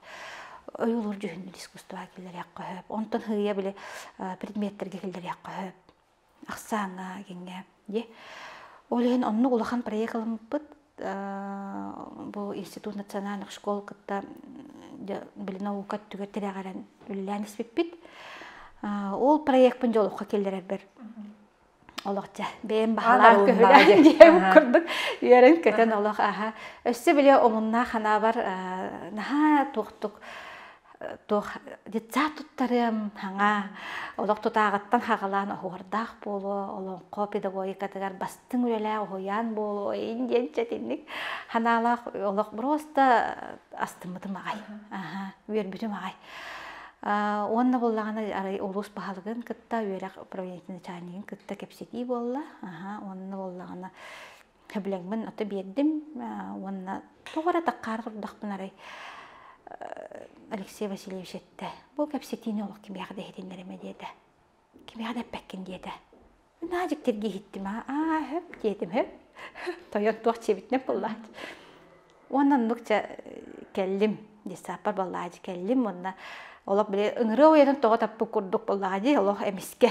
ойуулуур дьүһүннүүр искусствоҕа киллэриэххэ сөп онтон хыйа били предметтэргэ киллэриэххэ сөп ахсааҥҥа киҥҥэ дии ол иһин оннук улахан проект ылыммыппыт бу институт национальных школ кытта били наука өттүгэр тирэҕирэн үлэлээн испиппит ол проекпын дьолоххо киллэрэрбэр олох дьэ бэйэм баһалаан көһүлээн диэм курдук үөрэн көтөн олох аха өссө били омуннаах ханаабар наһаа туохтук туох детсад туттарыам хаҥа олох тутааҕыттан хаҕалаан оһуордаах буолуо олоҥхо педагогикатыгар бастыҥ үлэлээх уһуйаан буолуо ин диэн сэтинник ханаалаах олох просто астыммытым аҕай аха үөрбүтүм аҕай уонна буллаҕына арай улуус баһылыгын кытта үөрэх правительственнай начальнигын кытта кэпсэтии буолла аха уонна буллаҕына Төбүлэҥмин ото биэрдим уонна тоҕо эрэ такаар турдахпын арай Алексей Васильевич эттэ, бу кэпсэтиини олох кимиэхэ да иһитиннэримэ диэтэ. Кимиэхэ да эппэккин диэтэ. Наа дьиктиргии иһиттим аа хөп диэтим хөп тойон туох дьиэбитинэн буллаат уонна оннук чэ кэллим десаппар буоллаҕа дии кэллим уонна олох били ыҥырыа уйатын тоҕо таппыт курдук буоллаҕа дии олох эмискэ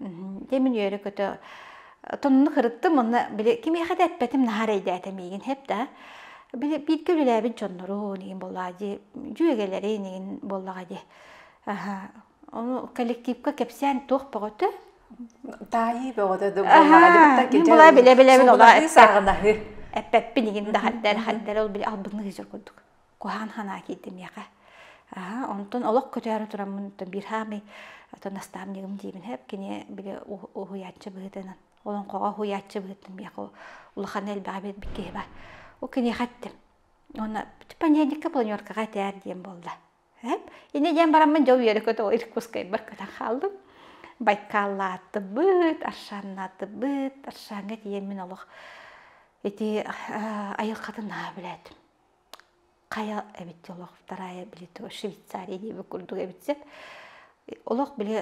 Дьэ мин үөрэ-көтө тоннуну кырыттым уонна били кимиэхэ да эппэтим наһаа эрэйдээтэ миигин һэп да. Били бииргэ үлэлээбит дьоннорун игин буоллаҕа дии дьүөгэлэрин игин буоллаҕа дии. Аһа ону коллективка кэпсээн туох бөҕөтө? Таайыы бөҕөтө да буоллаҕа. Мин була билэ-билэбин олаа эппэппин игин да хардара хардара ол били албынныыр дьор курдук. куһаан ханаа киирдимиэхэ аха онтон олох көтөөрү тураммын биир хаамый отон настаамньыгым диибин хэп кини били уһуйааччы быһыытынан олоҥхоҕо уһуйааччы быһыытын биэхэ улахан элбэҕи билбит киһи бар ол киниэхэ эттим уонна понеделька планеркаҕа этээр диэн буолла эп иннэ диэн бараммын дьэ үөрэ көтө иркутскайбар көтөн хааллым байкааллаатыбыт аршаннаатыбыт аршаҥҥа тиийэн мин олох ити айылхатын наһаа билээтим Хайа эбит олох вторая били то Швейцария диэбит курдук эбит сет олох били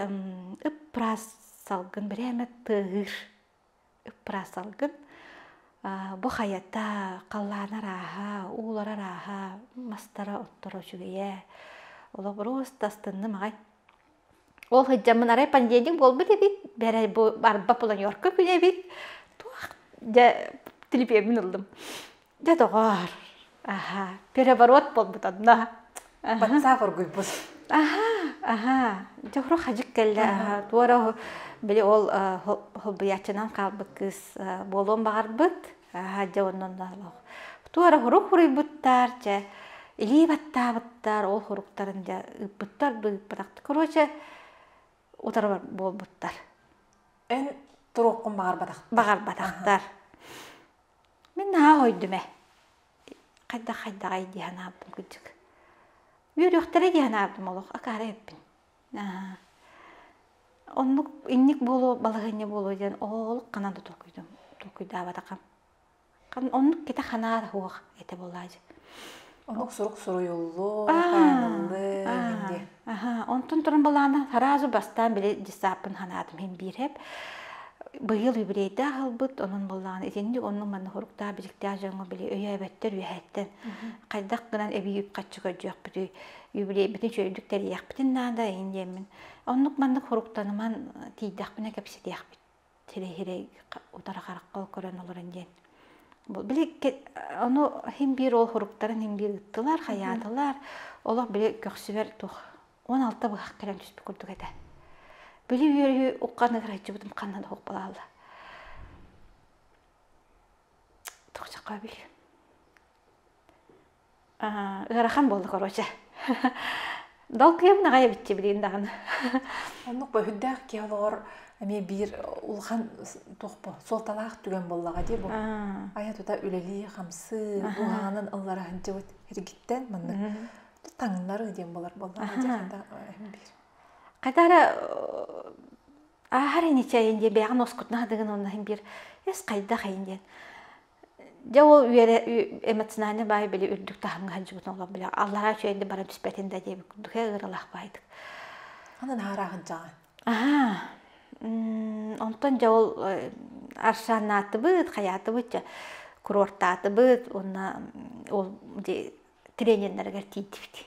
ыппыраас салгын бирээмэ тыаһыыр ыппыраас салгын бу хайата халлаанар ааһа ууларар ааһа мастара отторо үчүгэйэ олобуруос тастынным аҕай Ол сылдьаммын арай понедельник буолбут эбит, бэрай бу барба планерка күнэ эбит. Туох дьэ телепиэммин ыллым. Дьэ доҕоор, аһаа, переворот буолбут онно. Батсаап оргуйбут. Аһаа, аһаа, дьэ уру хадьык кэллэ аһаа, туора били ол холбуйааччынан хаалбыт кыыс буолуон баҕарбыт. Ааһа дьэ оннонноолоох. Туора хурук хуруйбуттар, дьэ илии баттаабыттар, ол хуруктарын дьэ ыыппыттар да ыыппатахтар. Короче, утарар буолбуттар. Эн туруоххун баҕарбатахтар. Баҕарбатахтар. Мин наһаа ойдум ээ. Хайдах хайдаҕай дии санаабытым кырдьык. Үөрүөхтэрэ дии санаабытым олох, акаары эппин. Оннук инник буолуо, балаһыанньа буолуо диэн олох ханан да толкуйдаабатахам. Оннук китэ ханаара суох этэ буолаа дьи. Омук сурук суруйуллуо, хайаныллыа Онтон туран балаана сразу бастаан били десаппын санаатым иһин биирһэп быйыл юбилейдаах аһылбыт онон буоллаҕына итинник оннук-маннык соруктаах биликтээх дьоҥҥо били өйөөбөттөр үөһэттэн хайдах гынан эбии үп-харчы көрдьүөхпүтүй юбилейбитин чөлүдүк тэрийэхпитин наада ин диэммин оннук маннык фруктаныман тиийдэхпинэ кэпсэтиэхпит сирэйирэй утары харахха көрөн олорон диэн били ону хин биир ол фруктарын хин биир ыттылар хаyaатылар олох били көхсүбэр туох он алта быһах кэлэн түспүт курдук этэ били үөрүү уккан ыгырайчыбытым ханна да хуппалаалла тохсакаабил ыарахан буолла короче долгуйам наҕайа биччи билиин даҕаны оннук бу үрдээх киһи олоҕор эмиэ биир улахан туохпу суолталаах түгэн буоллаҕа дии бу айа тута үлэлии хамсыы уһаанын ыллара сылдьыбыт эргиттэн маннык таҥнары диэн болар буоллаҕа биир хайда эрэ ааһар ини чэйин диэ бэйэҕин оскутнаһа дыгын онно иһин биир эс хайдах эйин диэн Дьэ ол үөрэ эмоциональнай баай били үрдүк таһымҥа сылдьыбытын олох били аллараа үчүгэй да баран түспэтин да диэбит курдук ээ ыаралаах баайдык. Аны нааraa сылдьаҕын. Аһаа онтон дьэ ол аршаннаатыбыт, хайаатыбыт дьэ курортаатыбыт уонна ол тренердэригэр тиийдибит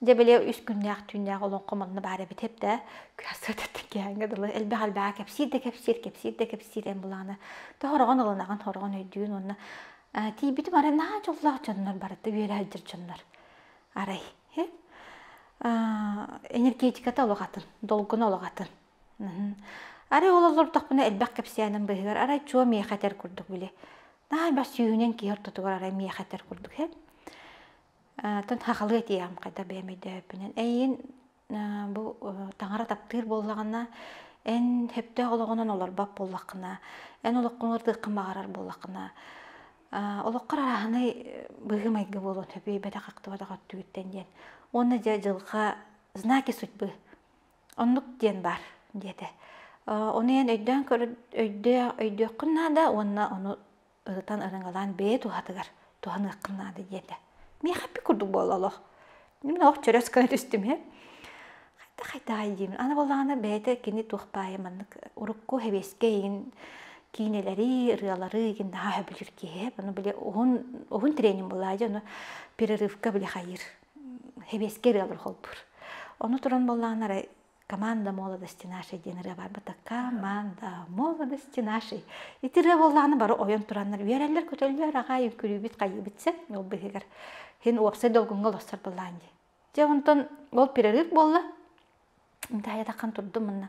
Дьэ били үс күннээх-түүннээх олоҥхо манна баар эбит эбитэ. Күһэ сырдаттык кээҥҥэ дылы элбэх элбэҕи кэпсиир да кэпсиир, кэпсиир да кэпсиир эн булаана. То хороҕон ылынаҕын, хороҕон өйдүүн уонна тиийбитим арай наһаа дьоллоох дьоннор барыта үөрэ сылдьар дьоннор. Арай энергетиката олоҕотун, долгуна олоҕотун. Арай ол олордохпуна элбэх кэпсээним быыһыгар арай чуо миэхэ этэр курдук били. Наһаа бас сүүһүнэн киһи ортотугар арай миэхэ этэр курдук Тон хахалыы этиэҕим хайдах бэйэм өйдөөбүппүнэн. Эйигин бу таҥара таптыыр буоллаҕына, эн сөптөөх олоҕунан олорбот буоллаххына, эн олоххун ырытыаххын баҕарар буоллаххына, олоххор арааһынай быһыы-майгы буолуон сөп, үөйбэтэх ахтыбатах өттүгүттэн диэн. Уонна дьэ дьылҕа знаки судьбы оннук диэн баар диэтэ. Ону эн өйдөөн көрө өйдөө өйдүөххүн наада уонна ону ырытан ырыҥалаан бэйэ туһатыгар туһаныаххын наада диэтэ миэхэ эппит курдук буолла олох мин ох чөрөс гына түстүм һэ хайда хайдаҕай диим аны буоллаҕына бэйэтэ кини туох баайы маннык урукку хэбиэскэй игин киинэлэри ырыалары игин наһаа өһө билир киһи ону били уһун уһун тренинг буолаа дьэ ону перерывка били хайыр хэбиэскэй ырыалар холбуур ону туран буоллаҕына эрэ команда молодости нашей диэн ырыа барбыта команда молодости нашей ити ырыа буоллаҕына бары ойон тураннар үөрэллэр көтөллөр аҕай үҥкүрүүбүт хайыыбыт сен ол быһыгар син уопсай долгунга олохсор былаан дии дьэ онтон ол перерыв буолла таайатахан турдум манна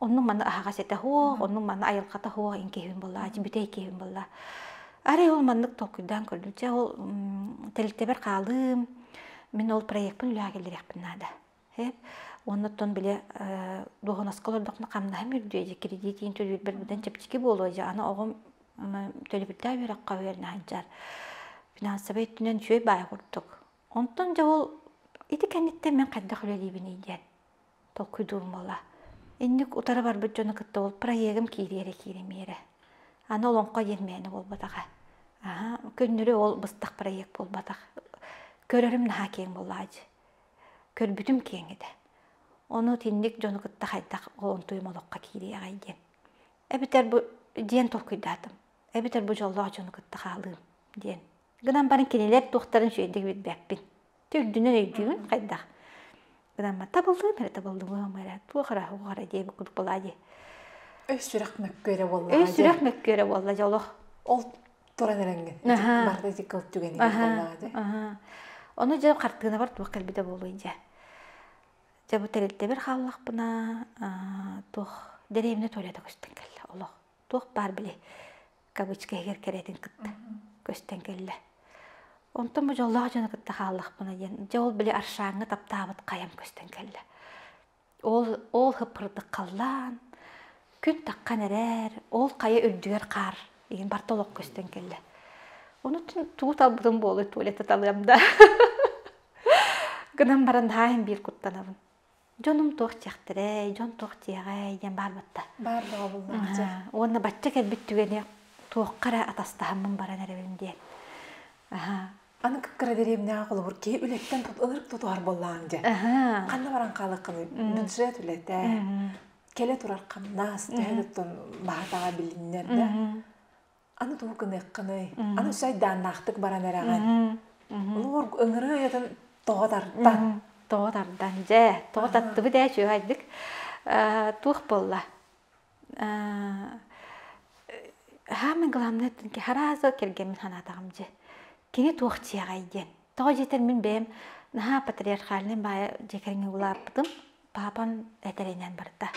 Онну маны аһаҕас этэ хуох, онну маны айылҕата хуох инкиһин булла, бүтэй инкиһин булла. Арай ол маннык толкуйдаан көрдүм. Чэ ол тэрилтэбэр хаалыым, мин ол проекпын үлэҕэ киллэриэхпин наада. Оннуттан били дуоһунаска олордохпуна хамнаһым үрдүө дии, кредит иин төлүүрбэр быдан чэпчэки буолуо дии. Аны оҕом төлөбүрдээх үөрэххэ үөрэнэ сылдьар. Финансовай өттүнэн үчүгэй баай курдук. Онтон дьэ ол ити кэнниттэн мин хайдах үлэлиибиний диэн. толкуйдуулмала. Инник утары барбыт дьону кытта ол проегым киириэрэ кииримиэрэ. Аны олоҥхо диэн мээнэ буолбатаҕа. Аһа, күннүрү ол быстах проект буолбатах. Көрөрүм наһаа киэҥ буоллаҕа дии. Көрбүтүм киэҥ этэ. Ону итинник дьону кытта хайдах олонтуйум олоххо киириэҕэй диэн. Эбэтэр бу диэн толкуйдаатым. Эбэтэр бу дьоллоох дьону кытта хаалыым диэн Гынан баран кинилэр туохтарын үчүгэйдик билбэппин. Ти үрдүнэн өйдүүгүн хайдах? Гынан баран табыллыбын эрэ табыллыбыгым эрэ туох эрэ оһох эрэ диэби курдук буолаа дии. Өй сүрэх мөккүөрэ буоллаҕа Өй сүрэх мөккүөрэ буолла дьэ олох. Ол туран эрэҥҥин. Аһаа. Барыта ити кыл түгэнигэр буоллаҕа дии. Аһаа. Ону дьэ хартыынабар туох кэлбитэ буолуой дьэ. Дьэ бу тэрилтэбэр хааллахпына аа туох дэриэбинэ туалета көстөн кэллэ олох. Туох баар били кавычка иһигэр кэрэтин кытта көстөн кэллэ. Онтон бу дьоллоох дьону кытта хааллахпына диэн, дьэ ол били аршааҥҥа таптаабыт хайам көстөн кэллэ. Ол ол хыппырдык халлаан күн таххан эрэр, ол хайа үрдүгэр хаар игин барта олох көстөн кэллэ. Онутун туу талбытым буолуй туалетта талыам да. Гынан баран даайын биир куттанабын. дьонум туох диэхтэрэй, дьон туох диэҕэй диэн баар батта. Баар бөҕө булбааччы. Уонна бачча кэлбит түгэни туохха эрэ атастаһаммын баран эрэбин диэн. Аһа. Аны кыра дэриэбинэҕэ холобур киһи үлэттэн ытырык тутуһар буоллаҕыҥ дьэ. Ханна баран хаалыккыный? Бюджет үлэтэ, кэлэ турар хамнас, төһө туттун баһатаҕа билиннэр да. аны тугу гыныаххыный аны үс айдааннаахтык баран эрэҕин олоор ыҥырыы айатын тоҕо тарта тоҕо тарда дьэ тоҕо таттыбыт ээ үчүгэйдик туох буолла самое главное харааза кэргэммин санаатаҕым дьэ кини туох дьиэҕэй диэн тоҕо дьиэтэр мин бэйэм наһаа патриархальнай баайа дьиэ кэргэҥҥэ улааппытым папам этэринэн барда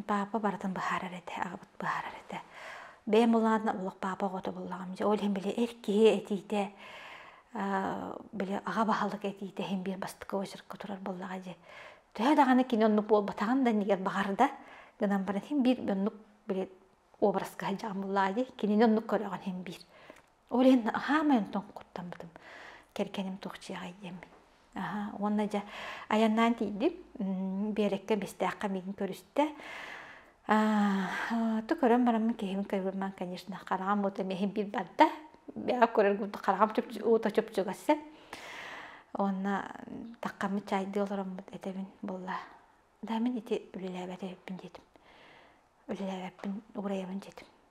папа барытын быһаарар этэ аҕабыт быһаарар этэ бэйэм улаатна олох папа оҕото буллаҕым дьэ ол иһин били эр киһи этиитэ били аҕа баһылык этиитэ иһин биир бастакы очеркка турар буоллаҕа дьэ төһө даҕаны кини оннук буолбатаҕын да иннигэр баҕарда гынан баран иһин биир оннук били образка сылдьаҕын буллаҕа дии кинини оннук көрөҕүн иһин биир Ол иһин хаамай онтон куттаммытым. Кэргэним туох дьиэҕэй диэммин. Аһаа, уонна дьэ айаннаан тиийдим. Биэрэккэ Бэстээххэ миигин көрүстэ. Аты көрөн бараммын киһибин көрбөммүн, конечно, хараҕым уута миэхин биир барда. Бэйэҕэ көрөр гурдук хараҕым уута чупчугас ээ. Уонна таккаммыт чайдыы олороммут этэбин буолла. Да мин ити үлэлээбэт эбиппин диэтим. Үлэлээбэппин, уурайабын диэтим.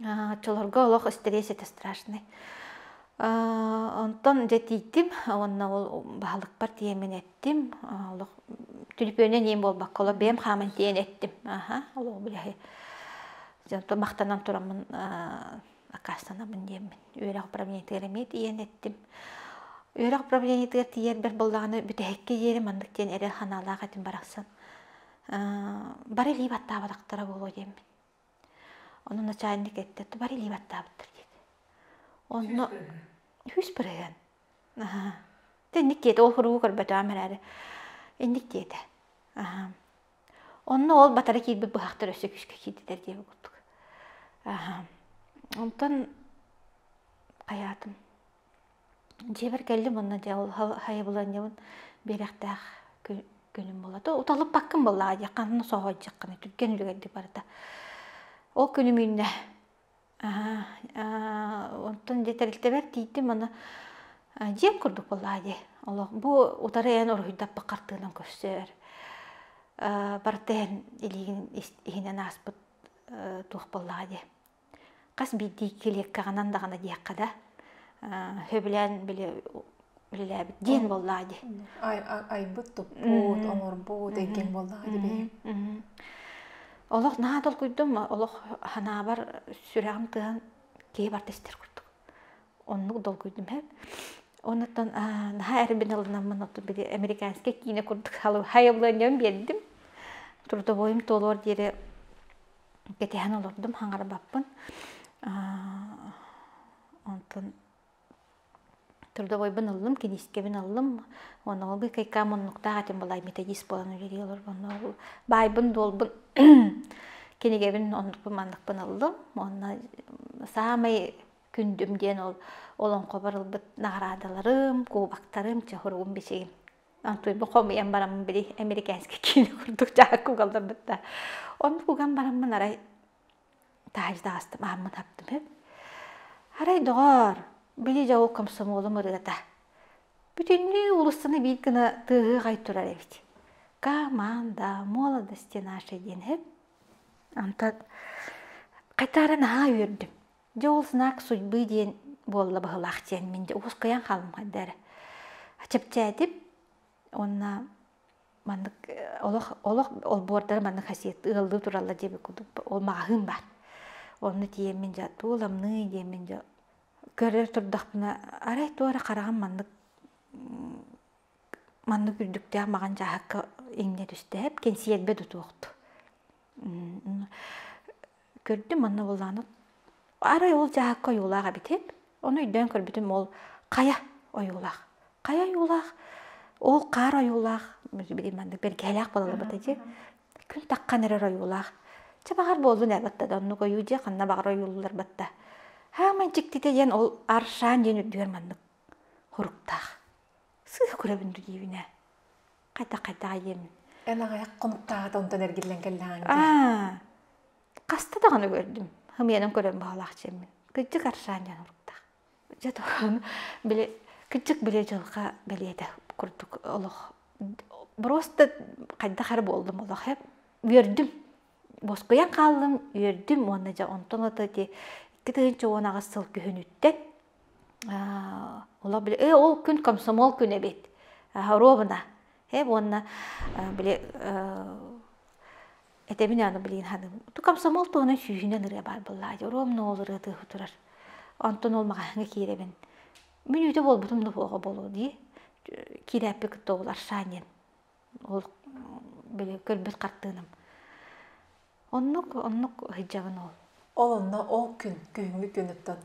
Оччолорго олох истириэситэ страшный. Онтон дьэ тиийдим уонна ол баһылыкпар тиэмэн эттим. Олох түлүпүөнүн иэм буолбакка олох бэйэм хааман тиийэн эттим. Аха, ол быйаһы дьонтон махтанан тураммын аккаастанабын диэммин. Үөрэх управлениетыгар эмиэ тиийэн эттим. Үөрэх управлениетыгар тиийэр бэрт буоллаҕына бүтэһиккэ диэри маннык диэн эрэл санаалаах этим барахсан. Бары илии баттаабатахтара буолуо диэммин. Онон начальник этте, тубар илии баттаабыттар диэт. Онно үһүс бырыһыан. Аһа. Инник тиэтэ ол хуругу көрбөтөҕүм эрээри. Инник тиэтэ. Аһа. Онно ол батара киирбит быһахтар өссө күүскэ киирдилэр диэбит курдук. Аһа. Онтон хайаатым дьиэбэр кэллим уонна дьэ ол хайабыланньабын биэриэхтээх күнүм буолла уталыппаккын буоллаҕа дии ханна соһуйдаххыный түргэн үлүгэрдик барыта ол күнү мунна онтон дьэ тэрилтэбэр тиийдим уонна дьиэм курдук буоллаҕа дии олох бу утары эн уруһуйдаппыт хартыынам көрсөр барыта иһин илиигин иһинэн ааспыт туох буоллаҕа дии хас биирдии килиэккэҕинэн даҕаны диэххэ да сөбүлээн били үлэлээбит диэн буоллаҕа дии айбыт туппут оҥорбут эҥкиҥ буоллаҕа дии бэйэҥ олох наһаа толкуйдум олох санаабар сүрэҕим тыаһан киһи барта истэр курдук оннук долгуйдум эб оннуттан наһаа эрбин ылынаммын оту били американскай киинэ курдук хайабыланиам биэрдим трудовойум туолуор диэри кэтэһэн олордум хаҥарбаппын онтон трудовойбун ыллым киниискэбин ыллым онуоһугу кайкаам муннуктаах этим былай методист буолан үлэлии олорор онуоһу баайбын дуолбун кинигэбин оннукпун манныкпын ыллым уонна саамай күндүм диэн ол олоҥхобор ылбыт наҕараадаларым кубоктарым чоһуругум бичигим Туйбу хомуйан бараммын били американский киилэ курдук дьаакка угалларбыт да. Онну уган бараммын арай таажы таастым ааммын аптымып. Арай доҕоор, били дьау комсомолум ырыата. Бүтүннүү улуссаны биир гына тыаһыай турар эбит. Команда, молодости наши диэн эп. Антат, хайтаара наһаа үөрдүм. Дьэ ол знак судьбы диэн буолла баһылаах диэн мин укускайан хаалымхайдар чэпчээтип уонна маннык олох олох олбуордары маннык хасиет ыаллыы туралла диэбит курдук ол маҕаһыын баар онну тиийэммин дьэ тууламныы диэммин дьэ көрө турдахпына арай туора хараҕым маннык маннык үрдүктээх маҕан дьааһыкка иҥнэ түстэһэп кэнсиэрбэ да туохту көрдүм манна буоллааны арай ол дьаһакка ойуулаах эбитим ону өйдөөн көрбүтүм ол хайа ойуулаах хайа ойуулаах ол хаар ойуулаах билигин маннык бэргэһэлээх буолаллыбыта дии күн таххан эрэр ойуулаах чэ баҕар буоллун ээлатта да оннук ойуу дьиэ ханна баҕар ойууллар батта хааман дьиктитэ диэн ол аршан диэн үрдүгэр маннык хуруктаах сыыһа көрөбүн дуу диэбинэ Хата-хата айын. Эн аҕай хонуктааҕыта онтон эргиллэн кэллэҕиҥ дии. Хаста даҕаны көрдүм. Хымыйанан көрөн баһалаах чэммин. Кыддык аршаан дьон уруктаах. Дьэ туран, били кыддык били дьылҕа бэлиэтэ курдук олох. Просто хайдах эрэ буоллум олох. Үөрдүм. Боскуйан хааллым, үөрдүм уонна дьэ онтон ото ити икки тыһыынча уон аҕыс сыл күһүнүттэн олох били э ол күн комсомол күн эбит ровно э уонна били этэбин аны билигин ханым ту комсомол туһунан сүүһүнэн ырыа баар буоллаа дии ровно ол ырыа тыыһы турар онтон ол маҕаһыыҥҥа киирэбин мүнүүтэ буолбутум да буолуо буолуо дии киирээппи кытта ол аршанием ол били көрбүт хартыынам оннук оннук сылдьабын ол ол онно ол күн күһүҥҥү күнүттэн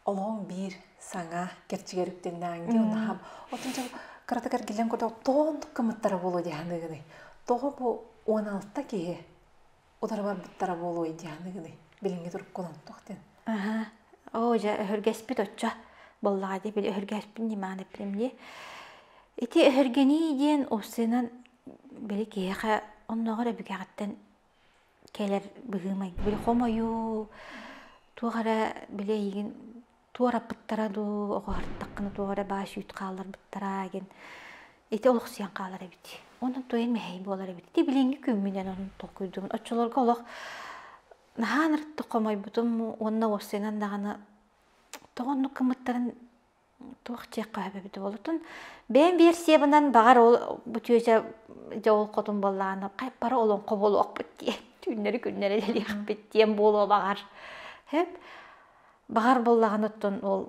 олоҕуҥ биир саҥа кэрчигэр үктэннээҥҥи унаһам отун дьэ кыратык эргиллэн кото тоонтук кымыттара буолуо дии саныыгыный тоҕо бу уон алта киһи утары барбыттара буолуой Дианыгыны билиҥҥи туруккун онтох диэн аха оо дьэ өһүргэспит оччо буоллаҕа дии били өһүргэспин ньимаан эппитим дии ити өһүргэнии диэн уссэнан били киһиэхэ оннооҕор эбигэҕиттэн кэлэр быһыы майгы били хомойуу туох эрэ били эйигин туораппыттара дуу, оҕуһартаххына туох эрэ баа үүт хаалларбыттара гин ити олохсуйан хаалар эбит. Онон туйын мэһэй буолар эбит. Ити билиҥҥи күммүнэн онон толкуйдуубун. Оччолорго олох наһаа ынырыктык хомойбутум уонна уоссайынан даҕаны тоҕо оннук гыммыттарын туох дьиэххэ өһөбөбүт уолутун бэйэм версиябынан баҕар ол бу түөсэ дьэ ол хотун баллаана хайпара олоҥхо буолуохпут диэн түүннэри күннэри дэлиэхпит диэн буолуо баҕар Баҕар буллаҕын оттон ол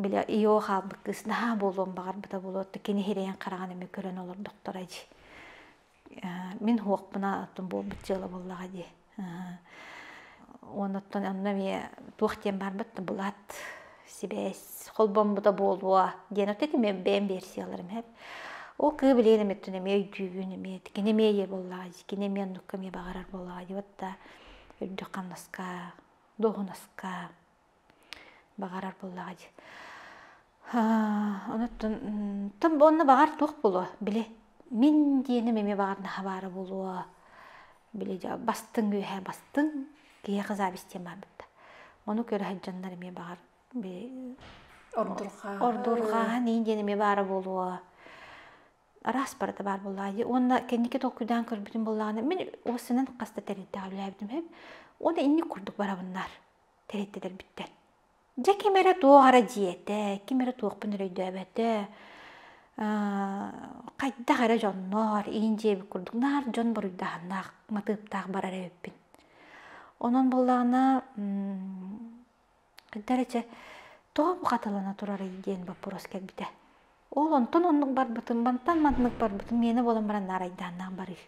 били ийэҕэ хаалбыт кыыс наһаа буолуон баҕарбыта буолуот да кини сирэйин хараҕын эмиэ көрөн олордохторо дии мин суохпуна оттон буолбут дьыала буоллаҕа дии оннуттан онно эмиэ туох диэн барбыт да былаат сибээс холбоммута буолуо диэн отто ити мен бэйэм версияларым эп ол кыы билигин эмиттэн эмиэ өйдүүбүн эмиэ кини эмиэ ийэ буоллаҕа дии кини эмиэ оннукка эмиэ баҕарар буоллаҕа дии вот да үрдүк хамнаска дуоһунаска баҕарар буоллаҕа дии онуттан тон онно баҕар туох буолуо били мин диэним эмиэ баҕарнаһа баара буолуо били бастыҥ үөһэ бастыҥ киһиэхэ завистиям барбыта ону көрө сылдьаннар эмиэ баҕар ордурҕааһын ии диэн эмиэ баара буолуо араас барыта баар буоллаҕа уонна кэнники толкуйдаан көрбүтүм буоллаҕына мин ол сынан хас да тэрилтэҕэ үлэлээбитим үһү уонна инник курдук барабыннар тэрилтэлэрбиттэн дьэ ким эрэ туох эрэ дьиэтэ ким эрэ туохпун эрэ өйдөөбөтө хайдах эрэ дьоннор иин дьиэбит курдук наар дьон буруйдааһыннаах матыыптаах барар эбиппин онон буоллаҕына Дары чэ, тоҕо бухаталана турарый диэн боппуруос кэлбитэ. Ол онтон оннук барбытым, мантан маннык барбытым, миэнэ буолан баран наарайдааннаах барыыр.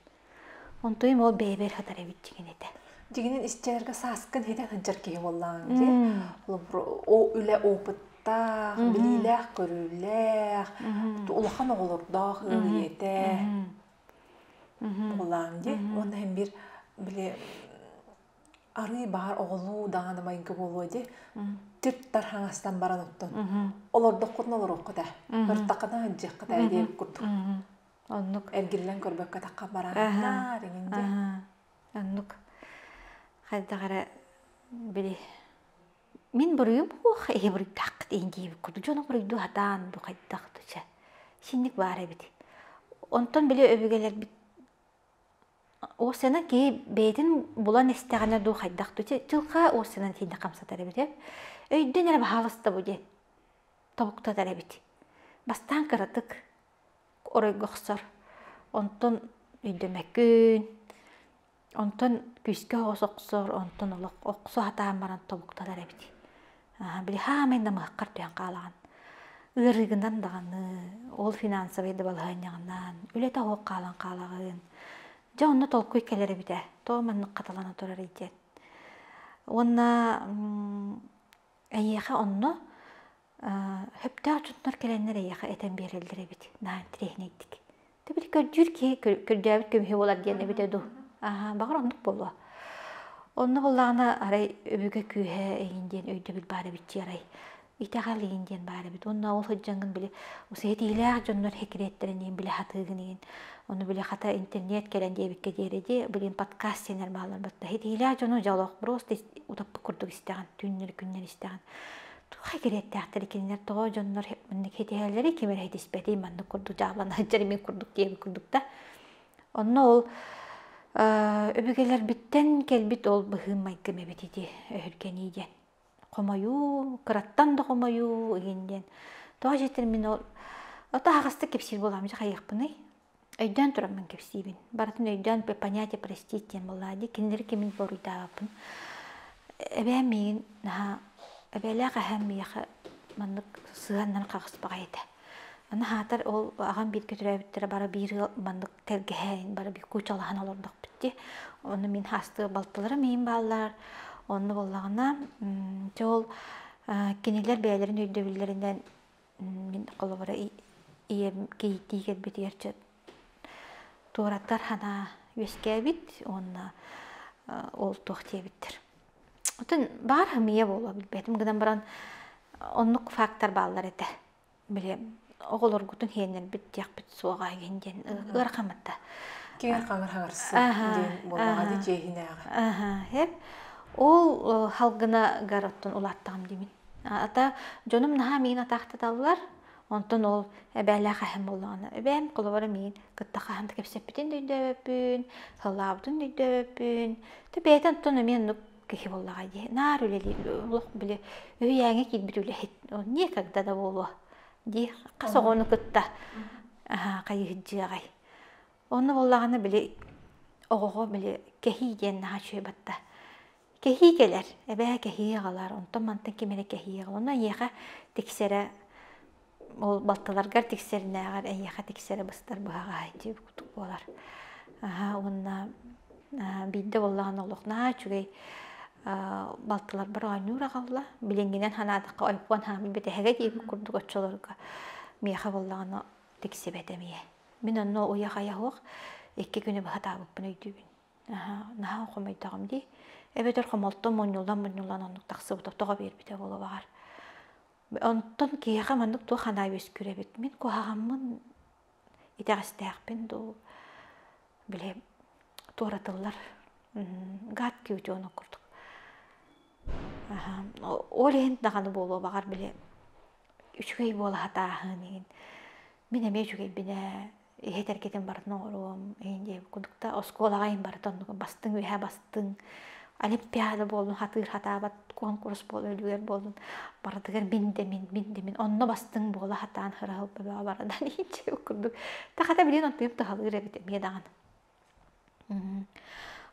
Онтуйум ол бэйэбэр сытар эбит дигин этэ. Дигинин истиэргэ сааскын һэтэ сылдьар киһи буоллаҕыҥ дии. Ол үлэ опыттаах, билиилээх, көрүүлээх, улахан оҕолордоох ыал ийэтэ буоллаҕыҥ дии. Уонна һэн биир били арыы баар оҕолуу даҕаны майгы буолуо дии түттар хаҥастан баран оттон олордоххутуна олоруоххут ээ ыртаххына аһдьыаххыт ээ диэн курдук оннук эргиллэн көрбөккөтөххө бараахтаар иҥин дии оннук хайдах эрэ били мин буруйум уох ээ буруйдааххыт иин диэбит курдук дьону буруйду хатаан бу хайдах да чэ синник баар эбит онтон били өбүгэлэрбит Ол сынан кии бэйэтин булан истэҕинэ дуу хайдах дуу чэ дьылҕаа ол сынан тиийдэ хамсатар эбитэ. Өйдүөн эрэ баһаалыста бу диэн тобуктатар эбит. Бастаан кыратык оройго охсор. Онтон өйдөмөккүн. Онтон күүскэ оҕус охсор. Онтон олох охсо сатаан баран тобуктатар эбит. били хаамай намыһаххар түһэн хаалаҕын ыарыыгынан даҕаны ол финансовай дабалаһыанньаҕынан үлэтэ оһуох хаалан хаалаҕын дьэ онно толкуй кэлэр эбитэ то маннык хаталана турарый диэн уонна эйиэхэ онно сөптөөх дьоннор кэлэннэр эйиэхэ этэн биэрэллэр эбит наһаа интириэһинэйдик Тэбит көрдүүр киһи көрдөөбүт көмүһэ буолар диэн эбитэ дуу. Аха, баҕар оннук буолуо. Онно буоллаҕына арай өбүгэ күүһэ эйин диэн өйдөбүл баар эбитчи арай. Итэҕэл эйин диэн баар эбит. Уонна ол сылдьаҥҥын били ситиһиилээх дьоннор хикрияттарын иһин билэ сатыыгын иһин. Ону били хата интернет кэлэн диэбиккэ диэри дии, блин подкаст диэннэр бааллар баттаа. Ситиһиилээх дьону дьолох просто утаппыт курдук истэҕин, түүннэри күннэри истэҕин. туох экириэттээхтэр кинилэр тоҕо дьоннор маннык хитиһэллэри ким эрэ хитиспэтий маннык курдук дьаабылан сылдьар мин курдук диэбит курдук да онно ол өбүгэлэрбиттэн кэлбит ол быһыы майгым эбит ити өһүргэнии диэн хомойуу кыраттан да хомойуу игин диэн тоҕо дьиэтэр мин ол ото аһаҕастык кэпсиир буолаам дьэ хайыахпыный Өйдөөн тураммын кэпсиибин. Барытын өйдөөн понятие простить диэн буоллаҕа дии. Кинилэри кимин буоруйдаабаппын. Эбээм миигин наһаа эбээлээх эһээм миэхэ маннык сыһыаннан хаҕыспаҕай этэ. Аны аһаатар ол аҕам бииргэ төрөөбүттэрэ бары биир ыал маннык тэлгэһээн бары биир куучалаһан олордохпут дии. Ону мин астыа балтыларым миин бааллар. Онно буоллаҕына дьэ ол кинилэр бэйэлэрин өйдөбүллэринэн мин холобура ийэм кийиттии кэлбитигэр чэ туораттар ханаа үөскээбит уонна ол туох диэбиттэр отон баар хамыйа буолуо билбэтим гынан баран оннук фактор бааллар этэ били оҕолоргутун хиэннэрбит диэхпит суоҕа иһин диэн ыар хамытта киэр хаҥыр хаҥырсыы диэн буолаҕа ди дьиэһинээҕи аха ол халгына гар оттон улааттаҕым димин Ата дьонум наһаа миин атаахтаталлар, онтон ол эбээлээх эһэм буоллаҕына эбээм холобура миин кытта хаһан да кэпсэппитин да өйдөөбөппүн, саллаабытын да өйдөөбөппүн, то бэйэтин оттон эмиэ оннук киһи буоллаҕа дии, наар үлэлиир олох били үһүйээҥҥэ киирбит үлэһит никогда да буолуо дии хас оҕону кытта хайыһдьыаҕай. Онно буоллаҕына били оҕоҕо били кэһии диэн наһаа үчүгэй батта. Кэһии кэлэр, эбээ кэһии аҕалар, онтон мантан ким эрэ кэһии аҕалар. Онно эйиэхэ тиксэрэ ол балтыларгар тиксэринээҕэр эйиэхэ тиксэрэ быстар быһаҕаһа дии буолар. Аһа уонна биирдэ буоллаҕына олох наһаа үчүгэй балтыларбар оонньуур аҕалла. Билиҥҥинэн санаатахха ойпуон хаамыы бүтэһэгэ диирин курдук оччолорго миэхэ буоллаҕына тиксибэт эмиэ. Мин онно уйа-хайа суох икки күнү быһа таабыппын өйдүүбүн наһаа хомойдоҕум дии эбэтэр хомолтом мунньуллан мунньуллан оннук тахсыбыта тоҕо биэрбитэ буолуоҕар онтон киһиэхэ маннык туох анаа үөскүүрэбит мин куһаҕаммын итэҕэстээхпин дуу били туоратыллар гад кьютионок курдук ол иһин даҕаны буолуо баҕар били үчүгэй буола сатааһын мин эмиэ үчүгэйбин ээ иһитэргитин барын оҕоруом иһин диэбит курдук да оскуолаҕа иһин барыта оннук бастыҥ үөһэ бастыҥ олимпиада буоллун хатыыр хатаабат куонкурус буоллун үлүгэр буоллун барытыгар мин да мин мин да мин онно бастыҥ буола хатаан хыраһыл бөбөҕө барадан иһин курдук та хата билигин онтуйум туһалыыр эбит эмиэ даҕаны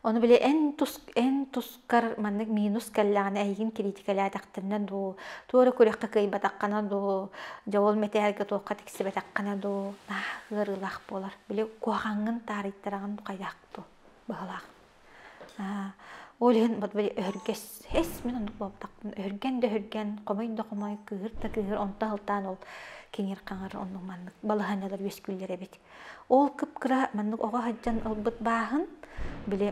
Ону били эн тус эн тускар маннык минус кэллэҕинэ эйигин кириитикэлээтэхтэринэ дуу, туох эрэ күрэххэ кыайбатаххына дуу, дьэ ол мэтээлгэ туохха тиксибэтэххинэ дуу, ыарыылаах буолар. Били куһаҕаҥҥын таарыйтараҕын хайдах дуу быһалаах. Ол иһин бот били өһүргэс эс мин оннук буолбатахпын өһүргэн да өһүргэн, хомой да хомой, кыыһыр да кыыһыр, онто сылтаан ол киҥир-хаҥыр оннук маннык балаһыанньалар үөскүүллэр эбит. Ол кып-кыра маннык оҕо сылдьан ылбыт бааһын, били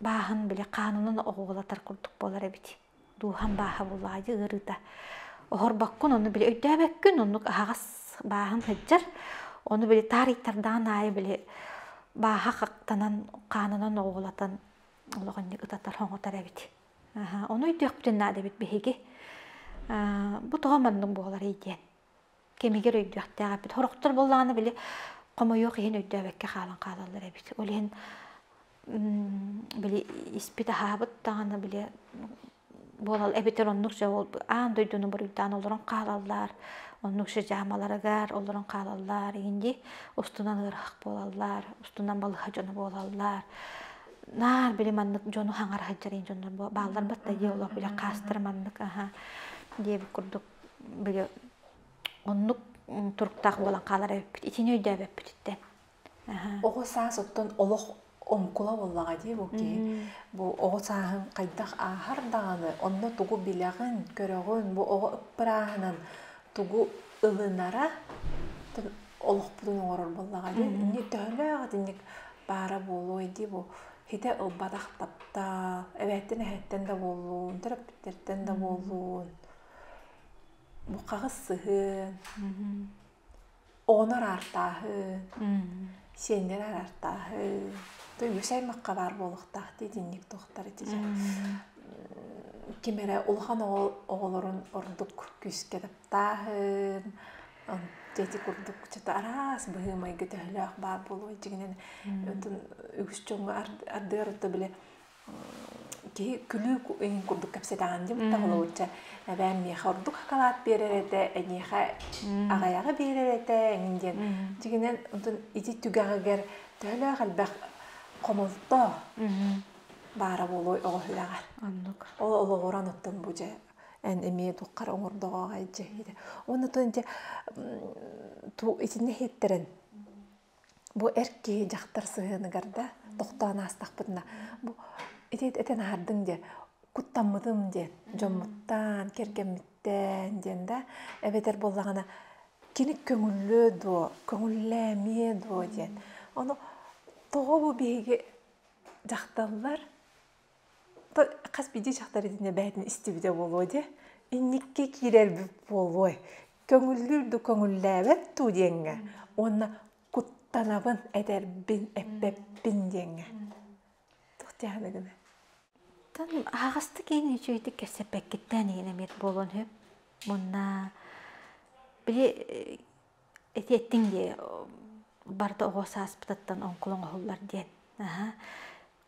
бааһын били хаанынан оҕуолатар курдук буолар эбит. Дууһам бааһа буоллаҕа ыарыыта. Оһорбоккун ону били өйдөөбөккүн оннук аһаҕас бааһын сылдьар. Ону били таарыйтардаҕын аайы били бааһа хахтанан хаанынан оҕуолатан олоҕунньук ытатар-хоҥотор эбит. Аһа, ону өйдүөхпүтүн наада эбит биһиги. Бу тоҕо маннык буоларый диэн. кэмигэр өйдүөхтээх эппит хорохтор буоллаҕына били хомойуох иһин өйдөөбөккө хаалан хаалаллар эбит ол иһин били испит аһаабыт даҕаны били буолал эбитэр оннук же ол аан дойдуну буруйдаан олорон хаалаллар оннук же дьаамаларыгар олорон хаалаллар инди устунан ыарах буолаллар устунан балыһа дьоно буолаллар наар били маннык дьону хаҥара сылдьарын дьоннор бааллар бат да дии олох биле хаастар маннык аха диэбит курдук били оннук туруктаах буолан хаалара эбиппит итини өйдөөбөппүтүттэн оҕо саас оттон олох оҥкула буоллаҕа дии бу киһи бу оҕо сааһын хайдах ааһар даҕаны онно тугу билэҕин көрөҕүн бу оҕо ыппырааһынан тугу ылынара олохпутун оҥорор буоллаҕа дии инньэ төһөлөөх итинник баара буолуой дии бу хитэ ылбатах таптаал эбээттэн эһэттэн да буоллун төрөппүттэртэн да буоллун Бухаҕыс сыһыан, оҕонор аартааһын, сиэннэр аартааһын, Өйүүс аймахха баар буолуохтаах дии итинник туохтар ити ким эрэ улахан оҕолорун ордук күүскэ таптааһын, эти курдук что-то араас быһыы-майгы төһөлөөх баар буолуой дьиҥинэн үгүс дьоҥҥо ардыгар били киһи күлүү иһин курдук кэпсэтэҕин дим табылаучча эбээн миэхэ ордук акалаат биэрэр этэ эниэхэ аҕайаҕы биэрэр этэ эҥин диэн дьигинэн онтон ити түгэҕигэр төһөлөөх элбэх хомолто баара буолуой оҕо үрэҕэр оннук олоҕуран оттон бу дьэ эн эмиэ туххара оҥордоҕо аҕай дьэ уонна тон дьэ итиннэ иһиттэрэн Бу эр киһи дьахтар сыһыаныгар да тохтоон аастахпытына бу ити этэн аһардыҥ диэн куттаммытым диэн дьоммуттаан кэргэммиттэн диэн да эбэтэр буоллаҕына кини көҥүллүө дуо көҥүллээ эмиэ дуо диэн ону тоҕо бу биһиги дьахталлар хас биирдии дьахтар итиннэ бэйэтин истибитэ буолуо дии инникки киирэрбит буолуой көҥүллүүр да көҥүллээбэт дуу диэҥҥэ уонна куттанабын этэрбин эппэппин диэҥҥэ туох диэхэне гына тан аһаҕастык иин үчүгэйдик кэпсэппэккиттээн иһин эмиэт буолуон сөп мунна били этиэттиҥ дии барда оҕо сааспытыттан оҥкулаҥ оһуллар диэн аха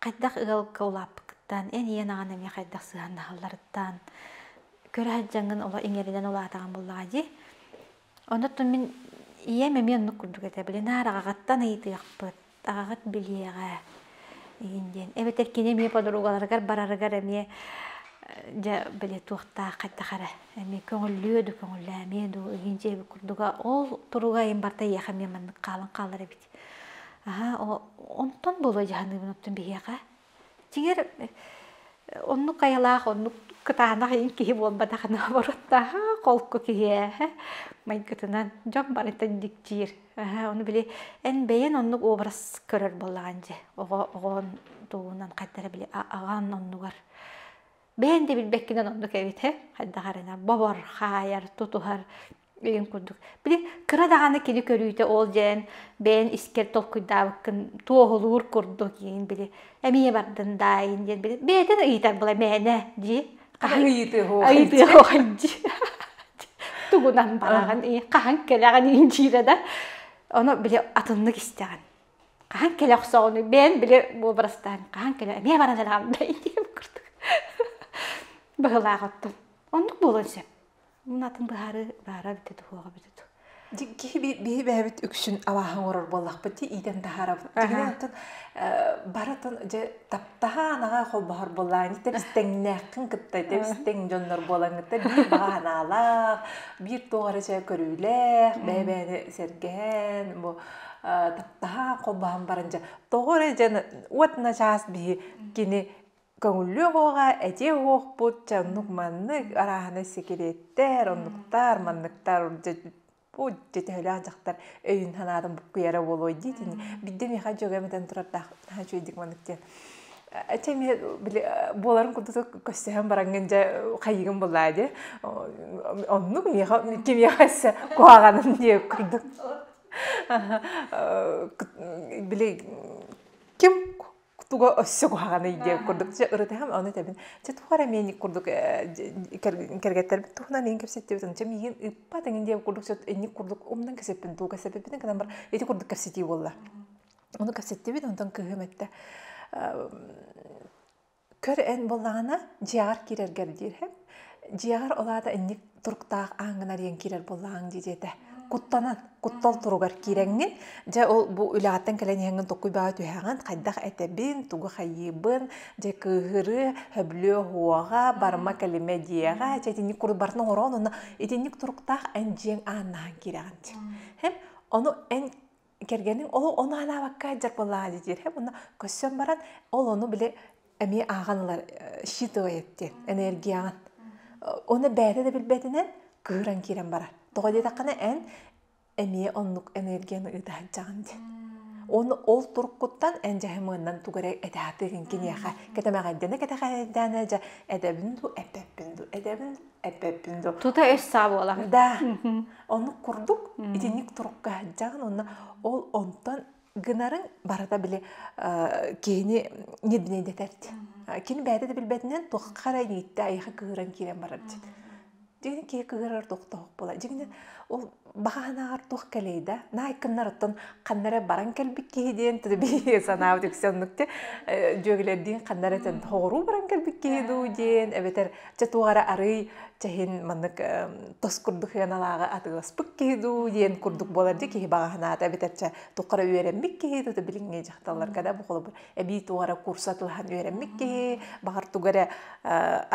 хайдах ыалга улааппыккыттан, эн ийэн аҕаҥ эмиэ хайдах сыһыаннаһалларыттан, көрө сылдьаҥҥын оло иҥэринэн улаатаҕын буоллаҕа дии. Онтон мин ийэм эмиэ оннук курдук этэ, били наар аҕаҕыттан ыйытыахпыт, аҕаҕыт билиэҕэ игин диэн. Эбэтэр кини эмиэ подругаларыгар барарыгар эмиэ дьэ били туохтаах хайдах эрэ эмиэ көҥүллүө да көҥүллээмиэ дуу, игин дьиэбит курдуга ол туруга айан барта эйиэхэ эмиэ маннык хаалан хаалар эбит Аһаа, онтон буолайдьаһаныыбын оттон биһиэхэ. Дьиҥэр, оннук айылаах, оннук кытаанах иин киһи буолбатахына обороттааһа, холку киһи ээ. Майгытынан дьон барытын дьикдьиир. Аһаа, ону били эн бэйэн оннук образ көрөр буоллаҕын дии. Оҕо оҕоҕун тугунан хайдах эрэ били аҕаҥ оннугар бэйэн да билбэккинэн оннук эбитэ хайдах эрэнэ бобор хаайар тутуһар деген курдук били кыра даҕаны кини көрүүтэ ол дьэн бэйэн искэр толкуйдаабыккын туоһулуур курдук иин били эмиэ бардын даайын диэн били бэйэтин ыйытар була мээнэ дии хаһан ыйытыаһоһын дии тугунан бараҕын ии хаһан кэлэҕин иинчиирэ да ону били атыннык истэҕин хаһан кэлэ охсоҕунуй бэйэм били уобарастаан хаһан кэлэ эмиэ баран элэҕэрдэй диирим курдук быһылаах оттон оннук буолуон сөп мун атын быһаарыы баара эбитэ дуу суоҕа эбитэ дуу киһи биһи бэйэбит үксүн абааһы оҥорор буоллахпыт дии иитэн таһаарабыт дьиҥинэн оттон барытын дьэ таптаһаан аҕа холбоһор буоллаҕын итис тэҥнээххин кытта итис тэҥ дьоннор буолан кытта биир баҕа санаалаах биир туох эрэ көрүүлээх бэйэ бэйэни сэргээн бу таптаһа холбоһон баран дьэ тоҕо эрэ дьэ уот начаас биһи кини көҥүллүөх оҕоҕа этиэ уохпут чэ оннук маннык арааһынай сикириэттэр оннуктар манныктар бу төһөлөөх дьахтар өйүн санаатын буккуйара буолуой дии итини бидde миэхэ дьөгөм этэн турардаах наһаа үчүгэйдик маннык диэн Эти эмиэ буоларын курдук көстөһөн бараҥҥын дьэ хайыгын булаа дии. Оннук миэхэ кимиэхэ эссе куһаҕанын диэ курдук. Били ким туга өссө куһаҕаный диэ курдук дьэ ырытыһам ону этэбин. Дьэ туох эрэ миэник курдук кэргэттэрбит туһунан иһин кэпситтибитин дьэ миигин ыппат эҥин диэ курдук инник курдук умнан кэпсиппин туга кэпсиппитин гынан бар ити курдук кэпситии буолла. Ону кэпситтибит, онтон кыһым эттэ көр эн былаана дьиэҕэр киирэргэр диирһэм дьиэҕэр ол аата инник туруктаах ааҥҥын арыйан киирэр буоллаҕаҥ дии диэтэ куттанан куттал туругар киирэҥҥин дьэ ол бу үлэҕиттэн кэлэн иһэҥҥин tokkуй баҕа түһэҕин хайдах этэбин тугу хайыыбын дьэ кыыһырыы хөблө оһуоҕа барыма кэлимэ диэҕэ дьэ итинник курут барытын оҥороон уонна итинник туруктаах эн дьиэҥ ааннаһан киирэҕин дии һэм ону эн кэргэнин ол ону анаабакка дьарпылаа диир һэ мунна көссөн баран ол ону били эмиэ ааҕан ылар считывай эттиэн энергияҕын оны бэйэтэ да билбэтинэн кыыран киирэн барар тоҕо диэтэххинэ эн эмиэ оннук энергияны ыыта сылдьаҕын диэн уонна ол туркуттан эн дьаһымыыннан тугу эрэ этэхтигин киниэхэ кэтэмэҕэйдээнэ кэтэҕэйдээнэ дьэ эдэбин ду эппэппин ду эдэбин эппэппин до тута өс саа буолар да ону курдук итинник турукка сылдьаҕын онно ол онтон гынарын барыта били киһини неднедэтэр кини бэйэтэ да билбэтинэн туохха эрэ иитти айха кыыран киирэн барар дин киһи кыырар тохтоһок була дигинен ол баһаанаҕар туох кэлэй да наайкыннарыттан ханна эрэ баран кэлбит киһи диэн тиби санаабыт үксэ оннук те дьүөгэлэрдиин ханна эрэ тэн хоҕуруу баран кэлбит киһи дуу диэн эбэтэр чэ туох эрэ арый чэһин маннык тос курдук хыаналааҕы атыыласпыт киһи дуу диэн курдук буолар дьэ киһи баҕаһынаата эбэтэр чэ туххара үөрэммит киһи дуу билиҥҥи дьахталларга да бу холобур эбии туох эрэ курса тылаһан үөрэммит киһи баҕар туга эрэ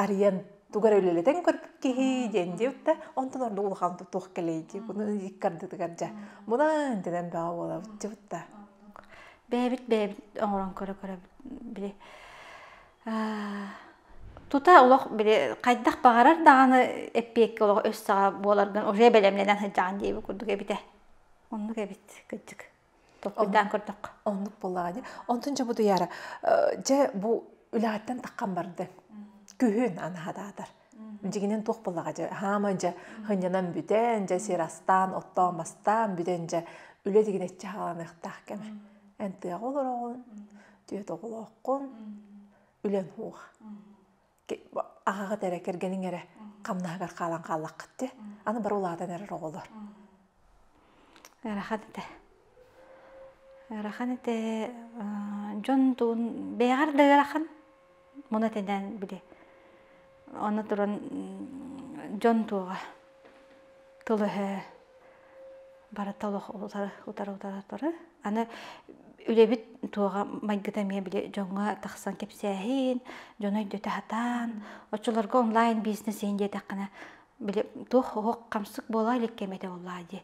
арыйан тугар үлэлэтэн көрбүт киһи диэн диэбитэ онтон ордук улахан туох кэлэйди bunu иккардытыгар дьа мунан дэнэн баа буолабыт дьыбытта бэйэбит бэйэбит оҥорон көрө көрө били тута олох били хайдах баҕарар даҕаны эппиэккэ олох өссөҕө буоларган уже бэлэмнэнэн сылдьаҕын диэби курдук эбитэ оннук эбит кыддык Тохпутаан көрдөххө. Оннук буоллаҕа дии. Онтун дьобутуйаара дьэ бу үлэҕиттэн таххан барды. Күһүн анаһатаатар. Дьигинэн туох буоллаҕа дьэ хаама дьэ хынньанан бүтэн дьэ сир астаан оттоон мастаан бүтэн дьэ үлэ тигинэччи хааланыахтаах кэмэ. Эн тыаҕа олороҕун, түөт оҕолооххун, үлэн уух. аҕаҕыт эрэ кэргэниҥ эрэ хамнаһыгар хаалан хааллаххыт дии аны бары улаатан эрэр оҕолор ыарахан этэ ыарахан этэ дьон тугун бэйэҕэр да ыарахан муна тэнээн били аны туран дьон туоҕа тыл эһээ барыта олох утары-утары-утары аны үлэбит туоҕа майгыта эмиэ били дьоҥҥо тахсан кэпсээһин дьону өйдөтө сатаан оччолорго онлайн бизнес иһин диэтэххинэ били туох-уһук хамсык буолуо илик кэм этэ буоллаа дии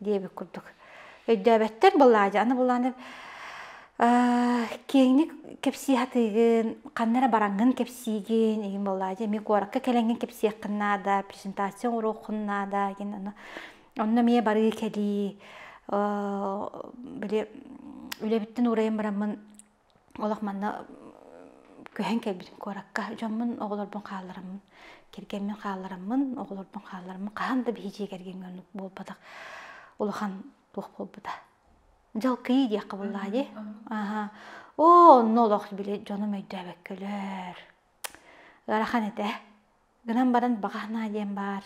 диэбит курдук өйдөөбөттөр былаадьа аны булааны киэҥник кэпсии сатыыгын ханна эрэ бараҥҥын кэпсиигин игин болаадьа эмиэ куоракка кэлэҥҥин кэпсиэххин наада презентация оҥоруоххун наада игин ону онно эмиэ барыы кэлии били үлэбиттэн уурайан бараммын Олох манна көһөн кэлбитим куоракка. Дьоммун, оҕолорбун хааллараммын, кэргэммин хааллараммын, оҕолорбун хааллараммын хаһан да биһи дьиэ кэргэмҥэ оннук буолбатах улахан туох буолбута. Дьалкыйыы диэххэ буоллаҕа Аха. Оо, онно олох били дьонум өйдөөбөккөлөр. Ыарахан этэ. гынан баран баҕаһынаа диэн баар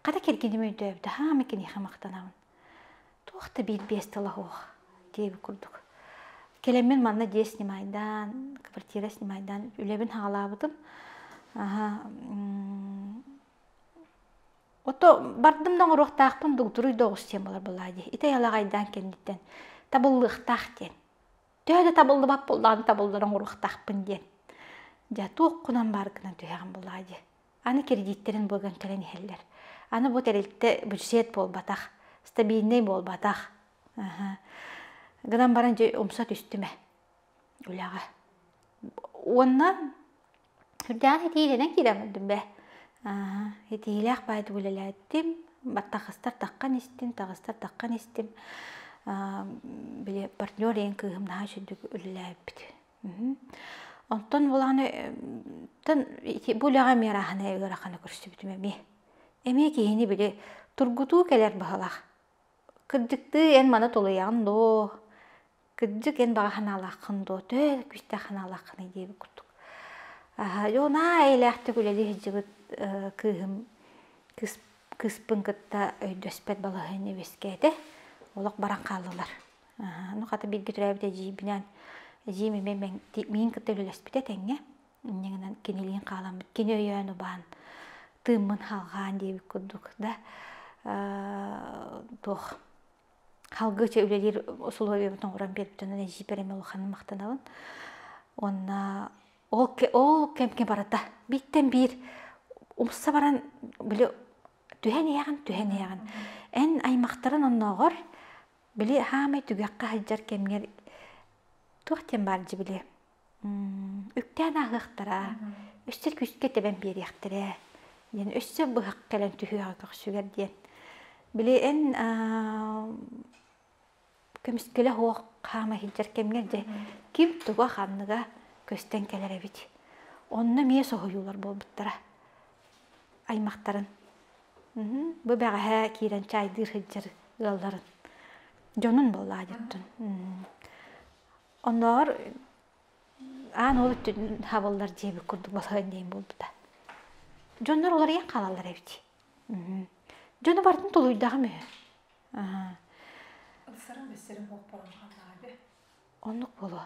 хара киргиним өйдөөбүтэ хаама киниэхэ махтанабын туох да биир биэс тыла суох диэбит курдук кэлэммин манна дьиэ снимайдаан квартира снимайдаан үлэбин саҕалаабытым аһа ото бардым да оҥоруохтаахпын дугдуруй да оҕус диэн буолар буоллаа дии итэй алаҕайдаан кэнниттэн табыллыахтаах диэн төһө да табыллыбат буоллаан табыллар оҥоруохтаахпын диэн дьэ туох гынан баар гынан түһэҕин булаа дии аны кредиттэрин быган кэлэн иһэллэр аны бу тэрилтэ бюджет буолбатах стабильнай буолбатах гынан баран дьэ умса түстүм ээ үлэҕэ уонна Кырдьаҕас итиилэнэн киирэн бардым бээ. Итиилээх баайдык үлэлээттим. Таҕыстар таххан истим, таҕыстар таххан истим. Били партнер ийэм кыыһым наһаа үчүгдүк үлэлээбит. Онтон булааны бу үлэҕэ эмиэ арааһынай ыараханы көрсүбүтүм эмиэ. Эмиэ киһини били тургутуу кэлэр баһылаах. Кырдьыктыы эн маны тулуйаҕын доо? Кырдьык эн баҕа санаалааххын дуо? Төһө күүстээх санаалааххыный диэбит курдук. Дьонаа эйэлээхтик үлэлии сылдьыбыт кыыһым кыс кыыспын кытта өйдөспөт балаһыанньа үөскээтэ. Олох баран хааллылар. Ну хата биирдиилээбит эдьиийбинээн эдьиийим эмиэ миин кытта үлэлэспитэ тэҥҥэ. Инньэ гынан кинилиин хаалан кини өйөөн убаан тыыммын халҕаан диэбит курдук да туох Халгыча үлэлиир усулуобуйабын оҥорон биэрбитинэн эдьиийбэр эмиэ улаханын махтанабын. Уонна ол кэмҥэ барыта бииртэн биир умса баран били түһэн иһэҕин, түһэн иһэҕин. Эн аймахтарын оннооҕор били хаамай түгэххэ сылдьар кэмҥэр туох диэн баар дьэ били Үктээн ааһыахтара, өссө күүскэ тэбэн биэриэхтэрэ диэн өссө быһах кэлэн түһүөҕэ көхсүгэр диэн. Били эн көмүскүлэ оһох хаама иһиллэр кэмҥэр дьэ ким туга ханныга көстөн кэлэр эбит. Онно эмиэ соһуйуулар буолбуттара аймахтарын. Бу бэҕэһээ киирэн чаайдыы сылдьар ыалларын. Дьонун буоллаа дьоттун. Оннооҕор аан ол өттүнэн хабыллар дьиэбит курдук балаһыан диэн буолбута. Дьоннор уларыйан хаалаллар эбит. Дьону барытын тулуйдаҕым үһү. Аһаа. Ысырым бэссэрим буолпаҕын хааллаҕа Оннук буолуо.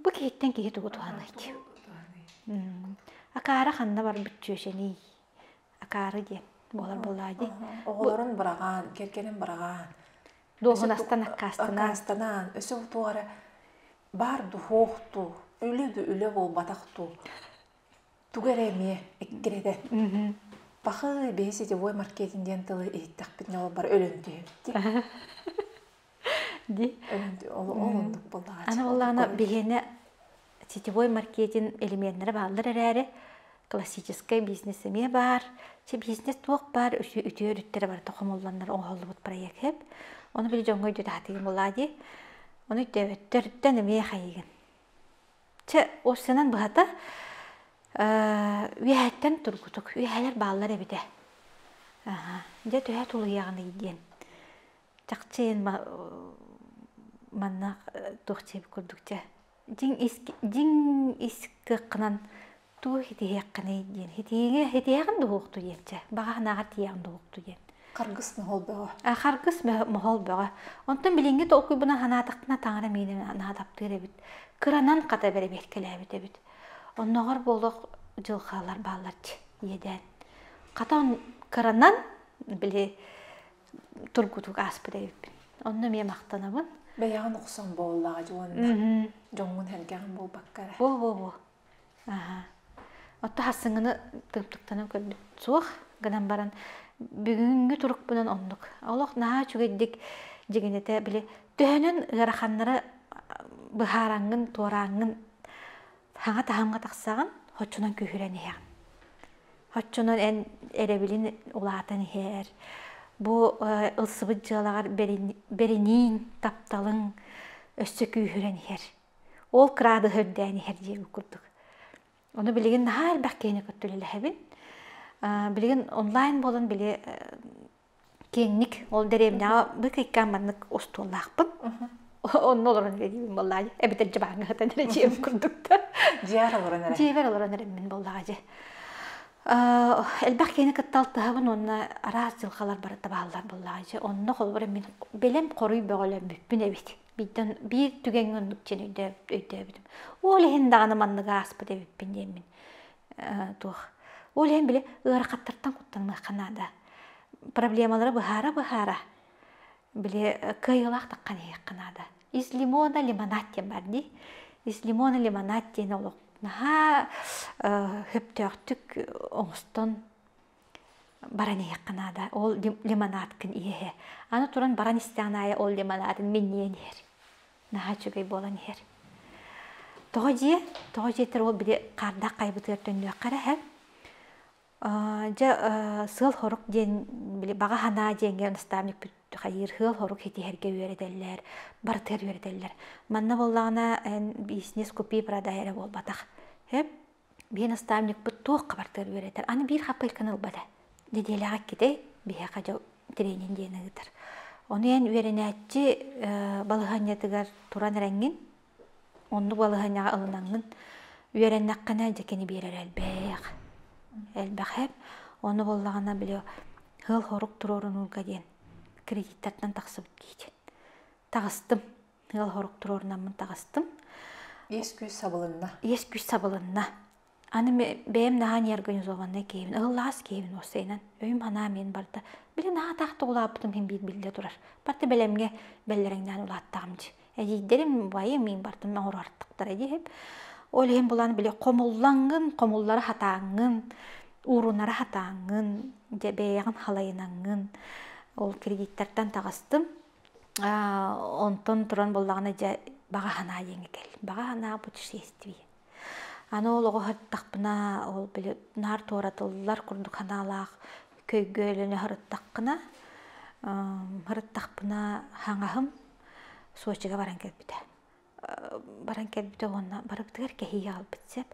Бу киһиттэн киһи тугу туһаныай дии. Акаары ханна бар бүччүөшэний? акаары диэн буолар буолаа дии оҕолорун быраҕаан кэргэнин быраҕаан дуоһунастан аккаастанаан аккаастанаан өсө утуох эрэ баар духуох дуу үлэ да үлэ буолбатах дуу тугу эрэ эмиэ эккирэтэн пахы бэһи сетевой маркетин диэн тылы иһиттэхпит ньолбар өлөн түһүмтик Ди. Ол ордук былаача. Ана боллаана биһиэнэ сетевой маркетинг элеменнэрэ бааллар эрээри, классическай бизнес эмиэ баар. Чи бизнес туох баар үтүө өрүттэрэ барыта хомулланнар оҥоһуллубут проект хэп. Ону били дьоҥҥо өйдүү таһатыгын булаа дии. Ону өйдөөбөттөртөн эмиэ хайыгын. Чэ, осынан быһата, үөһэттэн тургутук, үөһэлэр бааллар эбитэ. Дьэ, төһө тулуйаҕыный диэн. чахчыйын манна туох чиэб курдук чэ дьиҥ ис кыаххынан туу хитиһиэххиний диэн хитиигэ хитиһэҕин дуһуохту диэн чэ баҕаһынааҕар тиийэҕин дуһуохту диэн харгыс моһол бөҕө а харгыс моһол бөҕө онтон билиҥҥи толкуйбуна санаатахпына таҥара миинэ наадаптыыр эбит кыранан хата бэрэбиэркэлээбит эбит оннооҕор буолуох дьылхаалар бааллар иэдээн хата кыранан били тургутук ааспыт эбиппин онно эмиэ махтанабын бэйэҕин охсон буоллаҕа уонна дьоҥҥун һэргэҕин буолбаккара бу бу бу аха оттон хассыҥыны тымтыктанан көрбүт суох гынан баран бүгүҥҥү турукпунан оннук олох наһаа үчүгэйдик дьигинэтэ били төһөнөн ыараханнара быһаараҥҥын туорааҥҥын саҥа таһымҥа тахсаҕын хоччунан күүһүрэн иһэҕин оччонон эн эрэбилин улаатан иһэр бу ылсыбыт дьыалаҕар бэринииҥ тапталыҥ өссө күүһүрэн иһэр ол кыраадыһа үрдээн иһэр диэги курдук ону билигин наһаа элбэх киһини кытта үлэлэһэбин билигин онлайн буолан били Киэнник ол дэриэбинэҕэ бык иккээн маннык остуоллаахпын. Онно олорон эрийбин буоллаҕа эбэтэр дьыбаан ыһытан эрийиэм курдук да. Дьиэбэр олорон эрэ. Дьиэбэр олорон эрэммин буоллаҕа дьэ. Элбэх киһини кытта алтыһабын уонна араас дьылҕалар барыта бааллар буоллаҕа дьэ. Онно холобур мин бэлэм хоруй бөҕөлөммүппүн эбит. Бииртэн биир түгэҥҥэ оннук диэн өйдөөбүтүм. Ол иһин даҕаны маннык ааспыт эбиппин диэммин. Туох. Ол иһин били ыарахаттартан куттаныахха наада. проблемалары быһаара-быһаара били кыайыылаах таххан иһиэххэ наада из лимона лимонатия бар дии из лимона лимонатия диэн олох наһаа сөптөөхтүк оҥостон баран иһиэххэ наада ол лимонаткын иэһэ аны туран баран истэҕин аайы ол лимонатын минньийэн иһэр наһаа үчүгэй буолан иһэр тоҕо дии тоҕо диэтэр ол били хаардаах хайбытыгар төннүөххэ эрэ иһэр Дьэ сыал-хорук диэн били баҕа санаа диэҥҥэ наставникпыт хайыыр сыал-хорук ситиһэргэ үөрэтэллэр, барытыгар үөрэтэллэр. Манна буоллаҕына эн бизнес купи продай эрэ буолбатах. Сөп? Биир наставникпыт туохха барытыгар үөрэтэр. Аны биир хаппыайканы ылбата. Нэдиэлэҕэ иккитэй биһиэхэ дьэ тренинг диэн ыытар. Ону эн үөрэнээччи балаһыанньатыгар туран эрэҥҥин Оннук балаһыанньаҕа ылынаҥҥын үөрэннэххинэ дьэкини биэрэр элбэх, элбэхэр. Ону буоллаҕына били ыал-сорук туруорунууга диэн кредиттартан тахсыбыт киһитин таҕыстым. Ыал-сорук туруорунаммын таҕыстым. Иэс-күүс сабылынна. Иэс-күүс сабылынна. Аны бэйэм наһаа неорганизованнай киһибин, ылыллаҕас киһибин уоссайынан. Өйүм санаам иһин барда. Били наһаа тахта улааппытым иһин биир биллэ турар. Барыта бэлэмҥэ бэллэрэҥнээн улааттаҕым дии. Эдьиийдэрим убайым миин бартым оҥоруохтара дии иһип. Ол иһин булан били хомуллаҥҥын, хомуллара сатааҥҥын, уурунара сатааҥҥын, дьэ бэйэҕин халайынаҥҥын. Ол кредиттартан таҕыстым. Онтон туран буоллаҕына дьэ баҕа санаа диэҥҥэ кэл. Баҕа санаа путешествие. Аны ол оҕо сырыттахпына, ол били наар туоратыллар курдук санаалаах көйгө өлөнө сырыттаххына, сырыттахпына хаҥаһым Сочига баран кэлбитэ. Баран кэлбитэ уонна барыбытыгар кэһии хаалбыт сэп.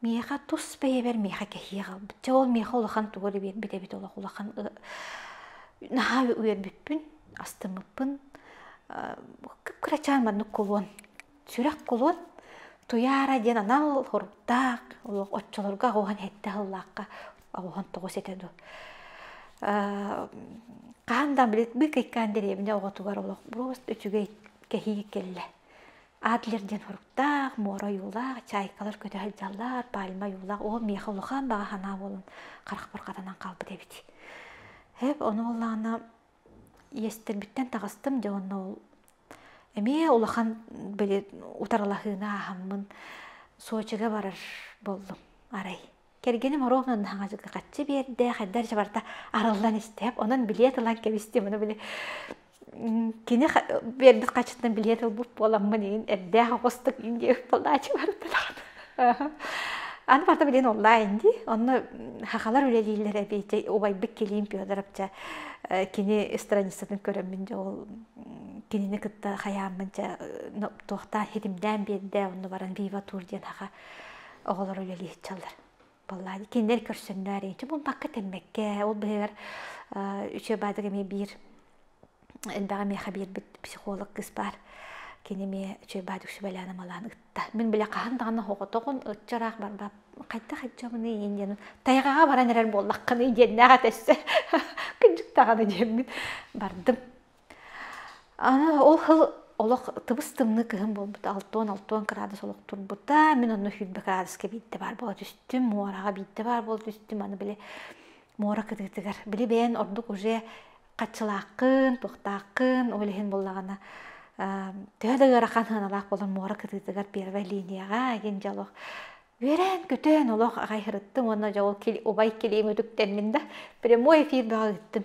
Миэхэ тус бэйэбэр миэхэ кэһии хаалбыт. Чэ ол миэхэ улахан тугу эрэ биэрбит эбит олох улахан наһаа үөрбүппүн, астыммыппын. Кып-кырачаан маннык кулуон сүрэх кулут Туяра диэн анал хоруктаах оччолорго аҕуһан хэтте аһыллаахха аҕуһан тоҕус этэ ду хаһан да билетбы кыйкаан деревня оҕотугар олох брост үчүгэй кэһии кэллэ адлер диэн хоруктаах муора ойуулаах чайкалар көтө сылдьаллар пальма ойуулаах оо миэхэ улахан баҕа санаа буолан харахпар хатанан хаалбыт эбит эп ону буоллаҕына иэстэрбиттэн таҕыстым дьэ онно эмиэ улахан били утарылаһыыны ааһаммын Сочига барар буоллум арай кэргэним ровно хаҥачыга хаччы биэрдэ хайдар чабарта арыллан истээп онон билиэт ылан кэбистим ону били кини биэрбит хаччытынан билиэт ылбыт буоламмын иин эрдээх оҕустук иин диэбит буолааччы бардылар Аны барыта билигин онлайн дии. Онно хахалар үлэлииллэр эбиити. Убайбыт Килиим Федоровча кини страницатын көрөммүн дьэ ол кинини кытта хайааммын дьэ туохтаан ситимнээн биэрдэ. Онно баран Viva Tour диэн хаха оҕолоро үлэлиир чаллар Баллаан кинилэр көрсөмнөр эчи булбакка тэммэккэ ол быһыгар үчү баадык эми биир элбэҕи миэхэ биэрбит психолог кыс баар кини эмиэ үчүгэй баадык сүбэлээн амалаан ытта мин бile хаһан даҕаны оҕотоҕун ытчыраах барбап хайдах итчамыны иин диэн тайҕаҕа баран эрэр буоллаххыный диэннээх этэрсэ кыдьык даҕаны диэммин бардым Ол хыл олох тыбыс-тымныы кыһын буолбута, алтыан-алтыан кыраадыс олох турбута. Мин онно сүүрбэ кыраадыска биирдэ баар буола түстүм, муораҕа биирдэ баар буола түстүм. Аны били муора кытыытыгар. Били бэйэн ордук уже хаччылааххын, туохтааххын, ол иһин буоллаҕына төһө да ыарахан сыаналаах буоллар муора кытыытыгар первая линияҕа диэн дьэ олох үөрэн-көтөн олох аҕай сырыттым уонна дьэ ол убай килиим үтүктэннин да прямой эфир бөҕө ыыттым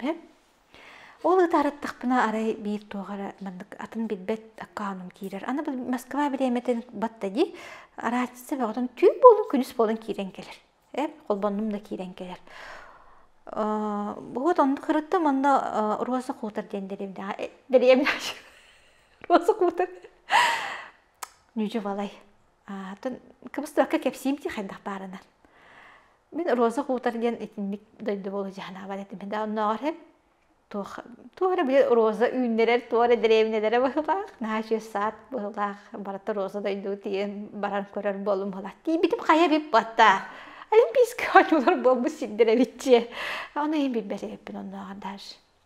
Ол ытаарыттахпына арай биир туох эрэ маннык атын билбэт аккаунум киирэр. Аны бу Москва бириэмэтин батта дии, араадьыса бөҕөтүн түүн буолун, күнүс буолан киирэн кэлэр. Э, холбоннум да киирэн кэлэр. Вот оннук ырыттым, онно Роза Кутер диэн дэриэбинэҕэ э, дэриэбинэҕэ Роза Кутер Нүүдьү Валай. Атын кыбыстыбакка кэпсиим дии хайдах баарынан. Мин роза куутар диэн итинник дойду буолу дьаһанаабат этим. Да оннооҕор һэн туох туох эрэ били роза үүннэрэр туох эрэ дэриэбинэлэрэ быһыылаах, наһаа үчүгэй саат быһыылаах, барыта роза дойду тиийэн баран көрөр буоллум быһыылаах. Тиийбитим хайа биппатта, олимпийскай оонньуулар буолбут сирдэр эбит дии. Ону иһин билбэт эбиппин оннооҕор даже.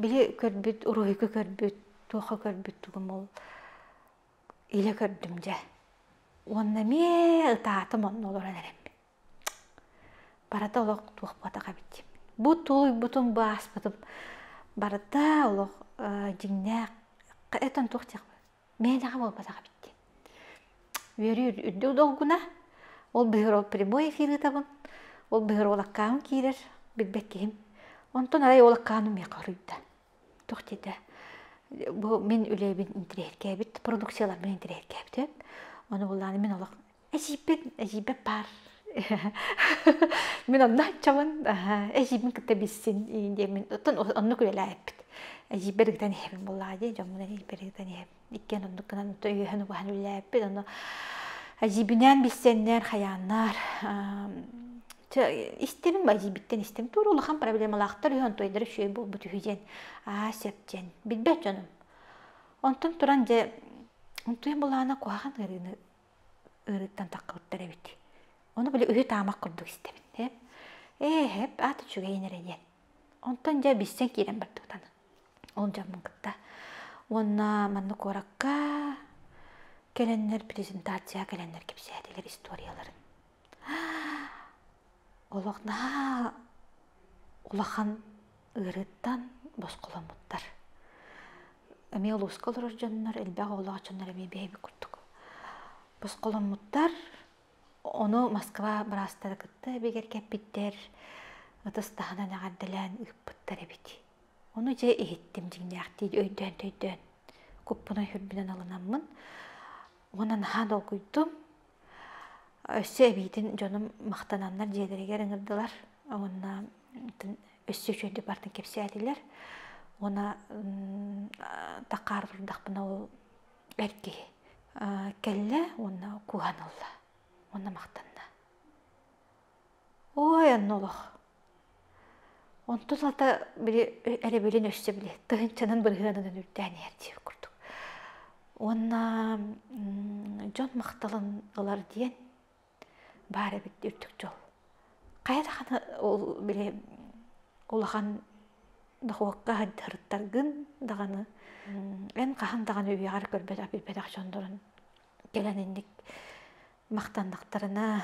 Били көрбүт, уруһуйга көрбүт, туохха көрбүт тугум ол илэ көрдүм дьэ. Уонна эмиэ ытаатым онно олорон эрэммин. Барыта олох туох буотах эбит дии. Бу тулуйбутум, бааспытым барыта олох дьиҥнээх эт он туох диэх Мeenэҕэ буолбатах эбит диэн. Үөрүү үрдүк долгуна. Ол быһыыр ол прямой эфир ыытабын. Ол быһыыр ол аккаамым киирэр, билбэт киһим. Онтон арай ол аккааным миэхэ хоруйда. Туох диэтэ? Бу мин үлэбин интириэһиргээбит, продукцияларбын интириэһиргээбитим. Ону буллааны мин олох Эдьиийбин, эдьиийбэр баар. Мин онно аччабын, эдьиийбин кытта билсин диэммин, оттон оннук үлэлээбиппит. Эдьиийбэр ыгытан иһэбин буоллаҕа дии, дьоммун эдьиийбэр ыгытан иһэбин. Иккиэн оннук гынан өйөһөн-убаһан үлэлээбиппит. Ону эдьиийбинээн билсэннэр, хайааннар, истэбин эдьиийбиттэн истэбин. Туора улахан проблемалаахтар үһү, онтуойдара үчүгэй буолбут үһү диэн. Аа, сөп диэн. Билбэт дьонум. Онтон туран дьэ, онтуйан былаана куһаҕан ыарыыны ыарыыттан таххабыттар эбит ону били үһү таамак курдук истэбин эп ээ эп аата үчүгэйин эрэ диэн онтон дьэ билсэн киирэн бардыбыт аны ол дьоммун кытта уонна манна куоракка кэлэннэр презентацияҕа кэлэннэр кэпсээтилэр историяларын олохнаа улахан ыарыыттан босхоломмуттар эмиэ улууска олорор дьоннор элбэх оҕолоох дьоннор эмиэ бэйэбит курдук босхоломмуттар ону москва быраастара кытта эбигэр кэппиттэр ытыс таһынан эҕэрдэлээн ыыппыттар эбит ону дьэ иһиттим дьиҥнээхтии өйдөөн өйдөөн куппунай үрбүнэн алынаммын уонна наһаа долгуйдум Өссө эбиитин дьонум махтананнар дьиэлэригэр ыҥырдылар уонна өссө үчүгэйдик бардын кэпсээтилэр уонна такаар турдахпына ол эр киһи кэллэ уонна кууһан ылла уонна махтанна Ой, онно олох. Онто сата били эрэбилин өссө били тыһынчанан бырыһыанынан үрдээн иһэр диир курдук. Уонна дьон махталын ылар диэн баар эбит үрдүк дьол. Хайа даҕаны ол били улахан дохуокка сырыттаргын даҕаны эн хаһан даҕаны үйэҕэр көрбөтөх билбэтэх дьондорун кэлэн инник махтаннахтарына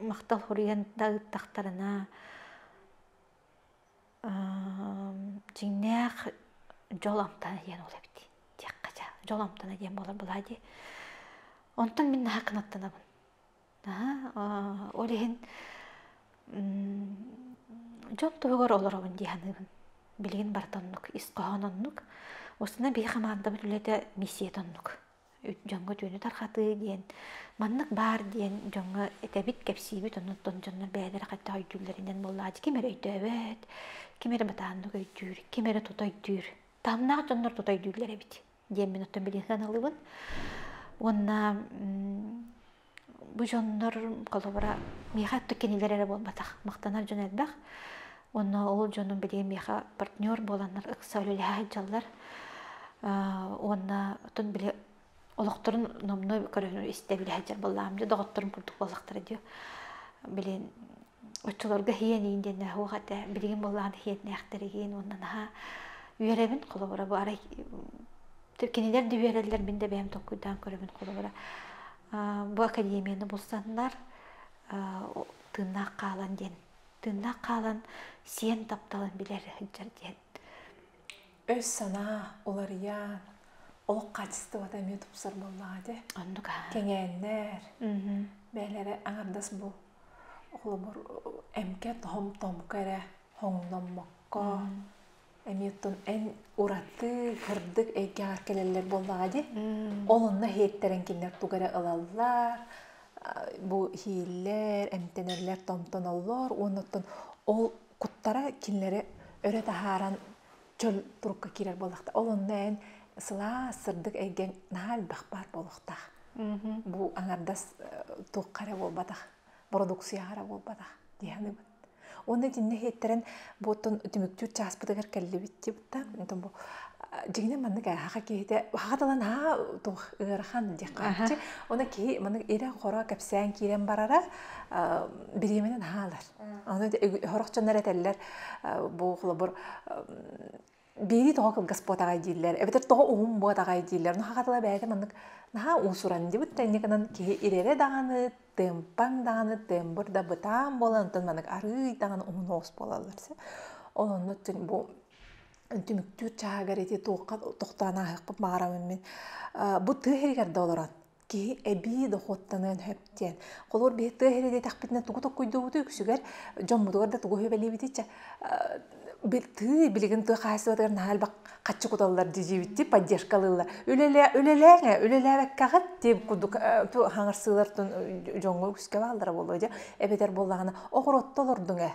махтал хуруйан да ыыттахтарына дьиҥнээх дьол амтана диэн ол эбит диэххэ дьэ дьол амтана диэн буолар былаа дии онтон мин наһаа кынаттанабын наһаа ол иһин дьол туһугар олоробун дии саныыбын билигин барыта оннук ис хоһоон оннук устуна биһи хамаандабыт үлэтэ миссият оннук дьоҥҥо түүнү тарҕатыы диэн маннык баар диэн дьоҥҥо этэбит кэпсиибит оннуттан дьоннор бэйэлэрэ хайдах өйдүүллэринэн буоллааччы ким эрэ өйдөөбөт ким эрэ батааннык өйдүүр ким эрэ тута өйдүүр таамнаах дьоннор тута өйдүүллэр эбит диэн мин оттон билиэн саналыбын уонна бу дьоннор холобура миэхэ оттук кинилэр эрэ буолбатах махтанар дьон элбэх уонна ол дьонум билигин миэхэ партнер буоланнар ыкса үлэлэһэ сылдьаллар уонна отон били олохторун номнуй көрөнү истэ билэ сылдьар буоллаам дьэ доҕотторум курдук буоллахтара дии билин оччолорго иһиэниин диэн оһуох этэ билигин буоллаҕына иһиэннээхтэригин уонна наһаа үөрэбин холобура бу арай кинилэр да үөрэллэр мин да бэйэм толкуйдаан көрөбүн холобура бу академияны булсаннар тыыннаах хаалан диэн тыыннаах хаалан сиэн тапталын билэр сылдьар диэн өй-санаа уларыйан, олох хаачыстыбата эмиэ тупсар буоллаҕа дии. Оннук аа. Кэҥээннэр, бэйэлэрэ аҥардас бу холобур эмкэ тоһом-томко эрэ хоҥноммокко эмиэ тун эн ураты кырдык эйгэҕэр кэлэллэр буоллаҕа дии. Ол онно иһиттэрэн кинилэр тугу эрэ ылаллар, бу иһииллэр, эмтэнэллэр, томтоноллор уонна оттон ол куттара кинилэри өрө таһааран чөл турукка киирэр буоллахта ол онно эн сылаас сырдык эйгэн наһаа элбэх баар буолуохтаах бу аҥардас туохха эрэ буолбатах бородуксуйаҕа эрэ буолбатах диэханыбын Оны динне хеттерен буоттун түмүктүүр чааспытыгар кэллибитти бутта. Антон бу дигине маннык хаха киһите хаха талан ха тух ыарахан диэххаччы. Оны киһи маннык ирэ хоро кэпсээн киирэн барара бириэминен хаалар. Аны хорохчоннор этэллэр бу холобур биирии тоҕо кылгас буотаҕай дииллэр эбэтэр тоҕо уһун буотаҕай дииллэр наха хатыла бэйэтэ маннык наха уусуран дибут тэнниканан киһи ирэрэ даҕаны тыымпаҥ даҕаны тыымбыр да бытаан буолан онтон маннык арыый даҕаны уһун оос буолаллар ононну бу түмүктүүр чааһыгар ити туохха тохтоон аахыахпын баҕарамын мин бу тыа иһигэр да олорон киһи эбии дохуоттаныан сөп диэн. Холор бэйэ тыа иһэ диэтэхпитинэ тугу токкуйдубуту үксүгэр дьоммутугар да тугу үбэлиибитиччэ тыы билигин тыа хаһаайыстыбатыгар наһаа элбэх хаччы куталлар дьиибитти поддержкалыыллар үлэлээҥэ үлэлээбэккэҕит тип курдук хаҥарсыылар дьоҥҥо үскэ бааллара буолуо дьэ эбэтэр буоллаҕына оҕуруотта олордуҥ ээ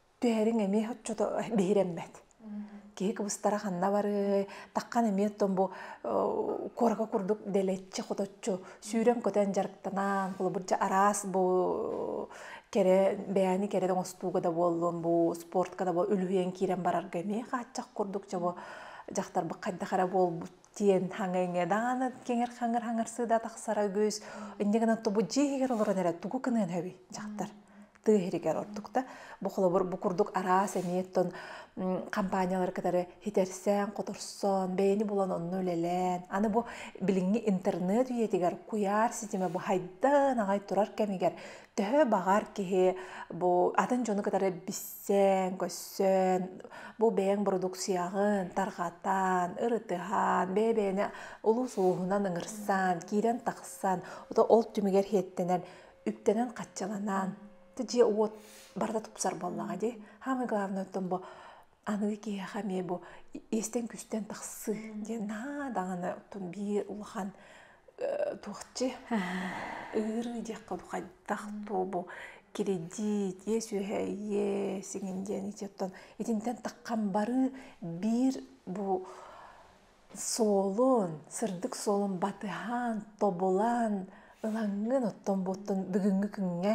түһэриҥ эмиэ оччото биһирэммэт. Киһи кыбыстара ханна барыай, таххан эмиэ оттон бу куоракка курдук дэлэччи хоточчу сүүрэн көтөн дьарыктанан, холобурча араас бу кэрэ бэйэни кэрэ оҥостууга да буоллун, бу спортка да үлүһүйэн киирэн барарга эмиэ хааччах курдук чобо дьахтарбыт хайдах эрэ буолбут диэн хаҥа-иҥэ даана киҥир-хаҥыр хаҥырсыы да тахсара үгүс. Инньэ гынан тобу дьиэ иһигэр олорон эрэ тугу гыныан сөбүй дьахтар? тыа иһигэр ордукта. Бу холобур бу курдук араас эмиэ тон компаниялары кытары хитэрсэн, хоторсон, бэйэни булан онно үлэлээн, аны бу билиҥҥи интернет үйэтигэр куйаар ситимэ буһайдан аҕай турар кэмигэр төһө баҕар киһи бу атын дьону кытары билсэн, көрсөн, бу бэйэҥ бородуксуйаҕын тарҕатан, ырытыһан, бэйэ-бэйэни олус ууһунан ыҥырсан, киирэн-тахсан, ол түмүгэр хиэттэнэн үктэнэн хаччаланаан ты дьиэ уот барыта тупсар буоллаҕа дии самое главное оттон бу аныгы киһиэхэ эмиэ бу иэстэн-күстэн тахсыы диэн наһаа даҕаны оттон биир улахан туохчи ыарыы диэххэ дуу хайдах туо бу кирэдьиит иэс-үөһэ иэс сиҥин диэн ити оттон итинтэн таххан барыы биир бу суолун, сырдык суолун батыһаан, тобулан, ылаҥҥын оттон-буоттан бүгүҥҥү күҥҥэ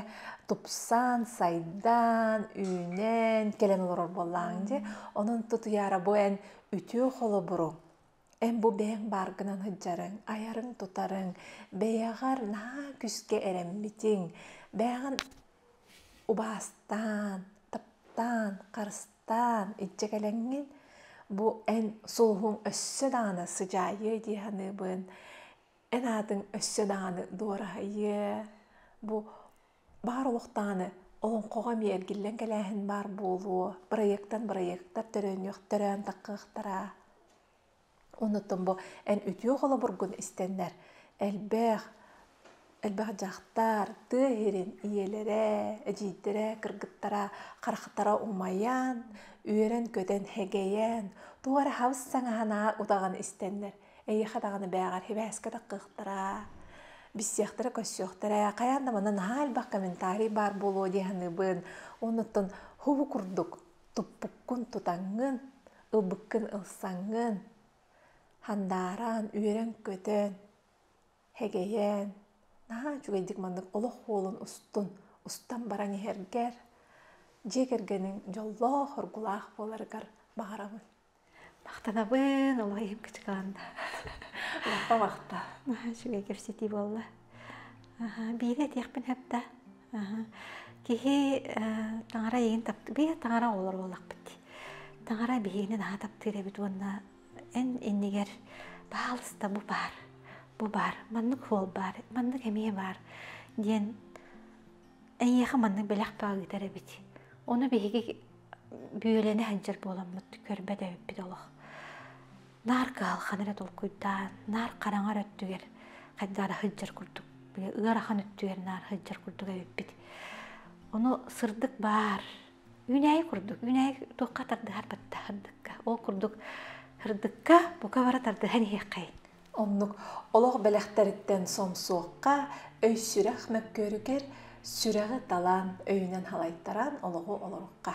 тупсан, сайдан, үүнэн, кэлэн олорор буоллаҕыҥ дии. Онон тутуйаара бу эн үтүө холобуруҥ. Эн-бу бэйэҥ бааргынан сылдьарыҥ, айарыҥ-тутарыҥ бэйэҕэр наһаа күүскэ эрэммитиҥ, бэйэҕин убаастаан, таптаан, харыстаан Таан, иччэ кэлэҥҥин, бу эн суоһуҥ өссө даҕаны сыдьаайыа дии саныыбын, эн аатыҥ өссө даҕаны дуораһыйыа, бу баар олох даҕаны олоҥхоҕо эмиэ эргиллэн кэлээһин баар буолуо, бырайыактан бырайыактар төрөннүөхтэрэ, таҥхыахтара. Оннуттан бу эн үтүө холобургун истэннэр элбэх элбэх дьахтар тыа иһирин ийэлэрэ, эдьиийдэрэ, кыргыттара, харахтара умайан, үөрэн-көтөн, хэгэйэн, туох эрэ хабыс саҥаһына утаҕын истэннэр эйиэхэ даҕаны бээҕэр сибээскэтэх кыахтара, билсиэхтэрэ көрсүөхтэрэ, хайаан да манна наһаа элбэх комментарий баар буолуо дии саныыбын. Оннуттан хубу курдук туппуккун тутаҥҥын, ылбыккын ылсаҥҥын, хандаараан, үөрэн-көтөн, хэгэйэн, наһаа үчүгэйдик маннык олох уолун устун, устан баран иһэргэр, дьиэ кэргэниҥ дьоллоох, оргулаах буоларыгар баҕарабын. Махтанабын олох иһим кычыкаанда лаппа махта үчүгэй кэпсэтии буолла биири этиэхпин сөптө киһи таҥара эйигин таптыыр биир таҥара оҕолор буоллахпыт дии таҥара биһигини наһаа таптыыр эбит уонна эн иннигэр баһаалыста бу баар бу баар маннык уол баар маннык эмиэ баар диэн эйиэхэ маннык бэлэх баҕа ыытар эбит ону биһиги бүөлэни сылдьар буоламмыт көрбөт эбиппит олох наар кыһалҕаны эрэ толкуйдаан наар хараҥар өттүгэр хайдара сылдьар курдук ыарахан өттүгэр наар сылдьар курдук эбиппит ону сырдык баар үүнээйи курдук үүнээйи туохха тардыһар тардыһардыкка ол курдук сырдыкка бука бара тардыһан иһиэххэйин Оннук олох бэлэхтэриттэн сомсуохха, өй-сүрэх мөккүөрүгэр сүрэҕи талаан, өйүнэн халайтаран олоҕу олорукка.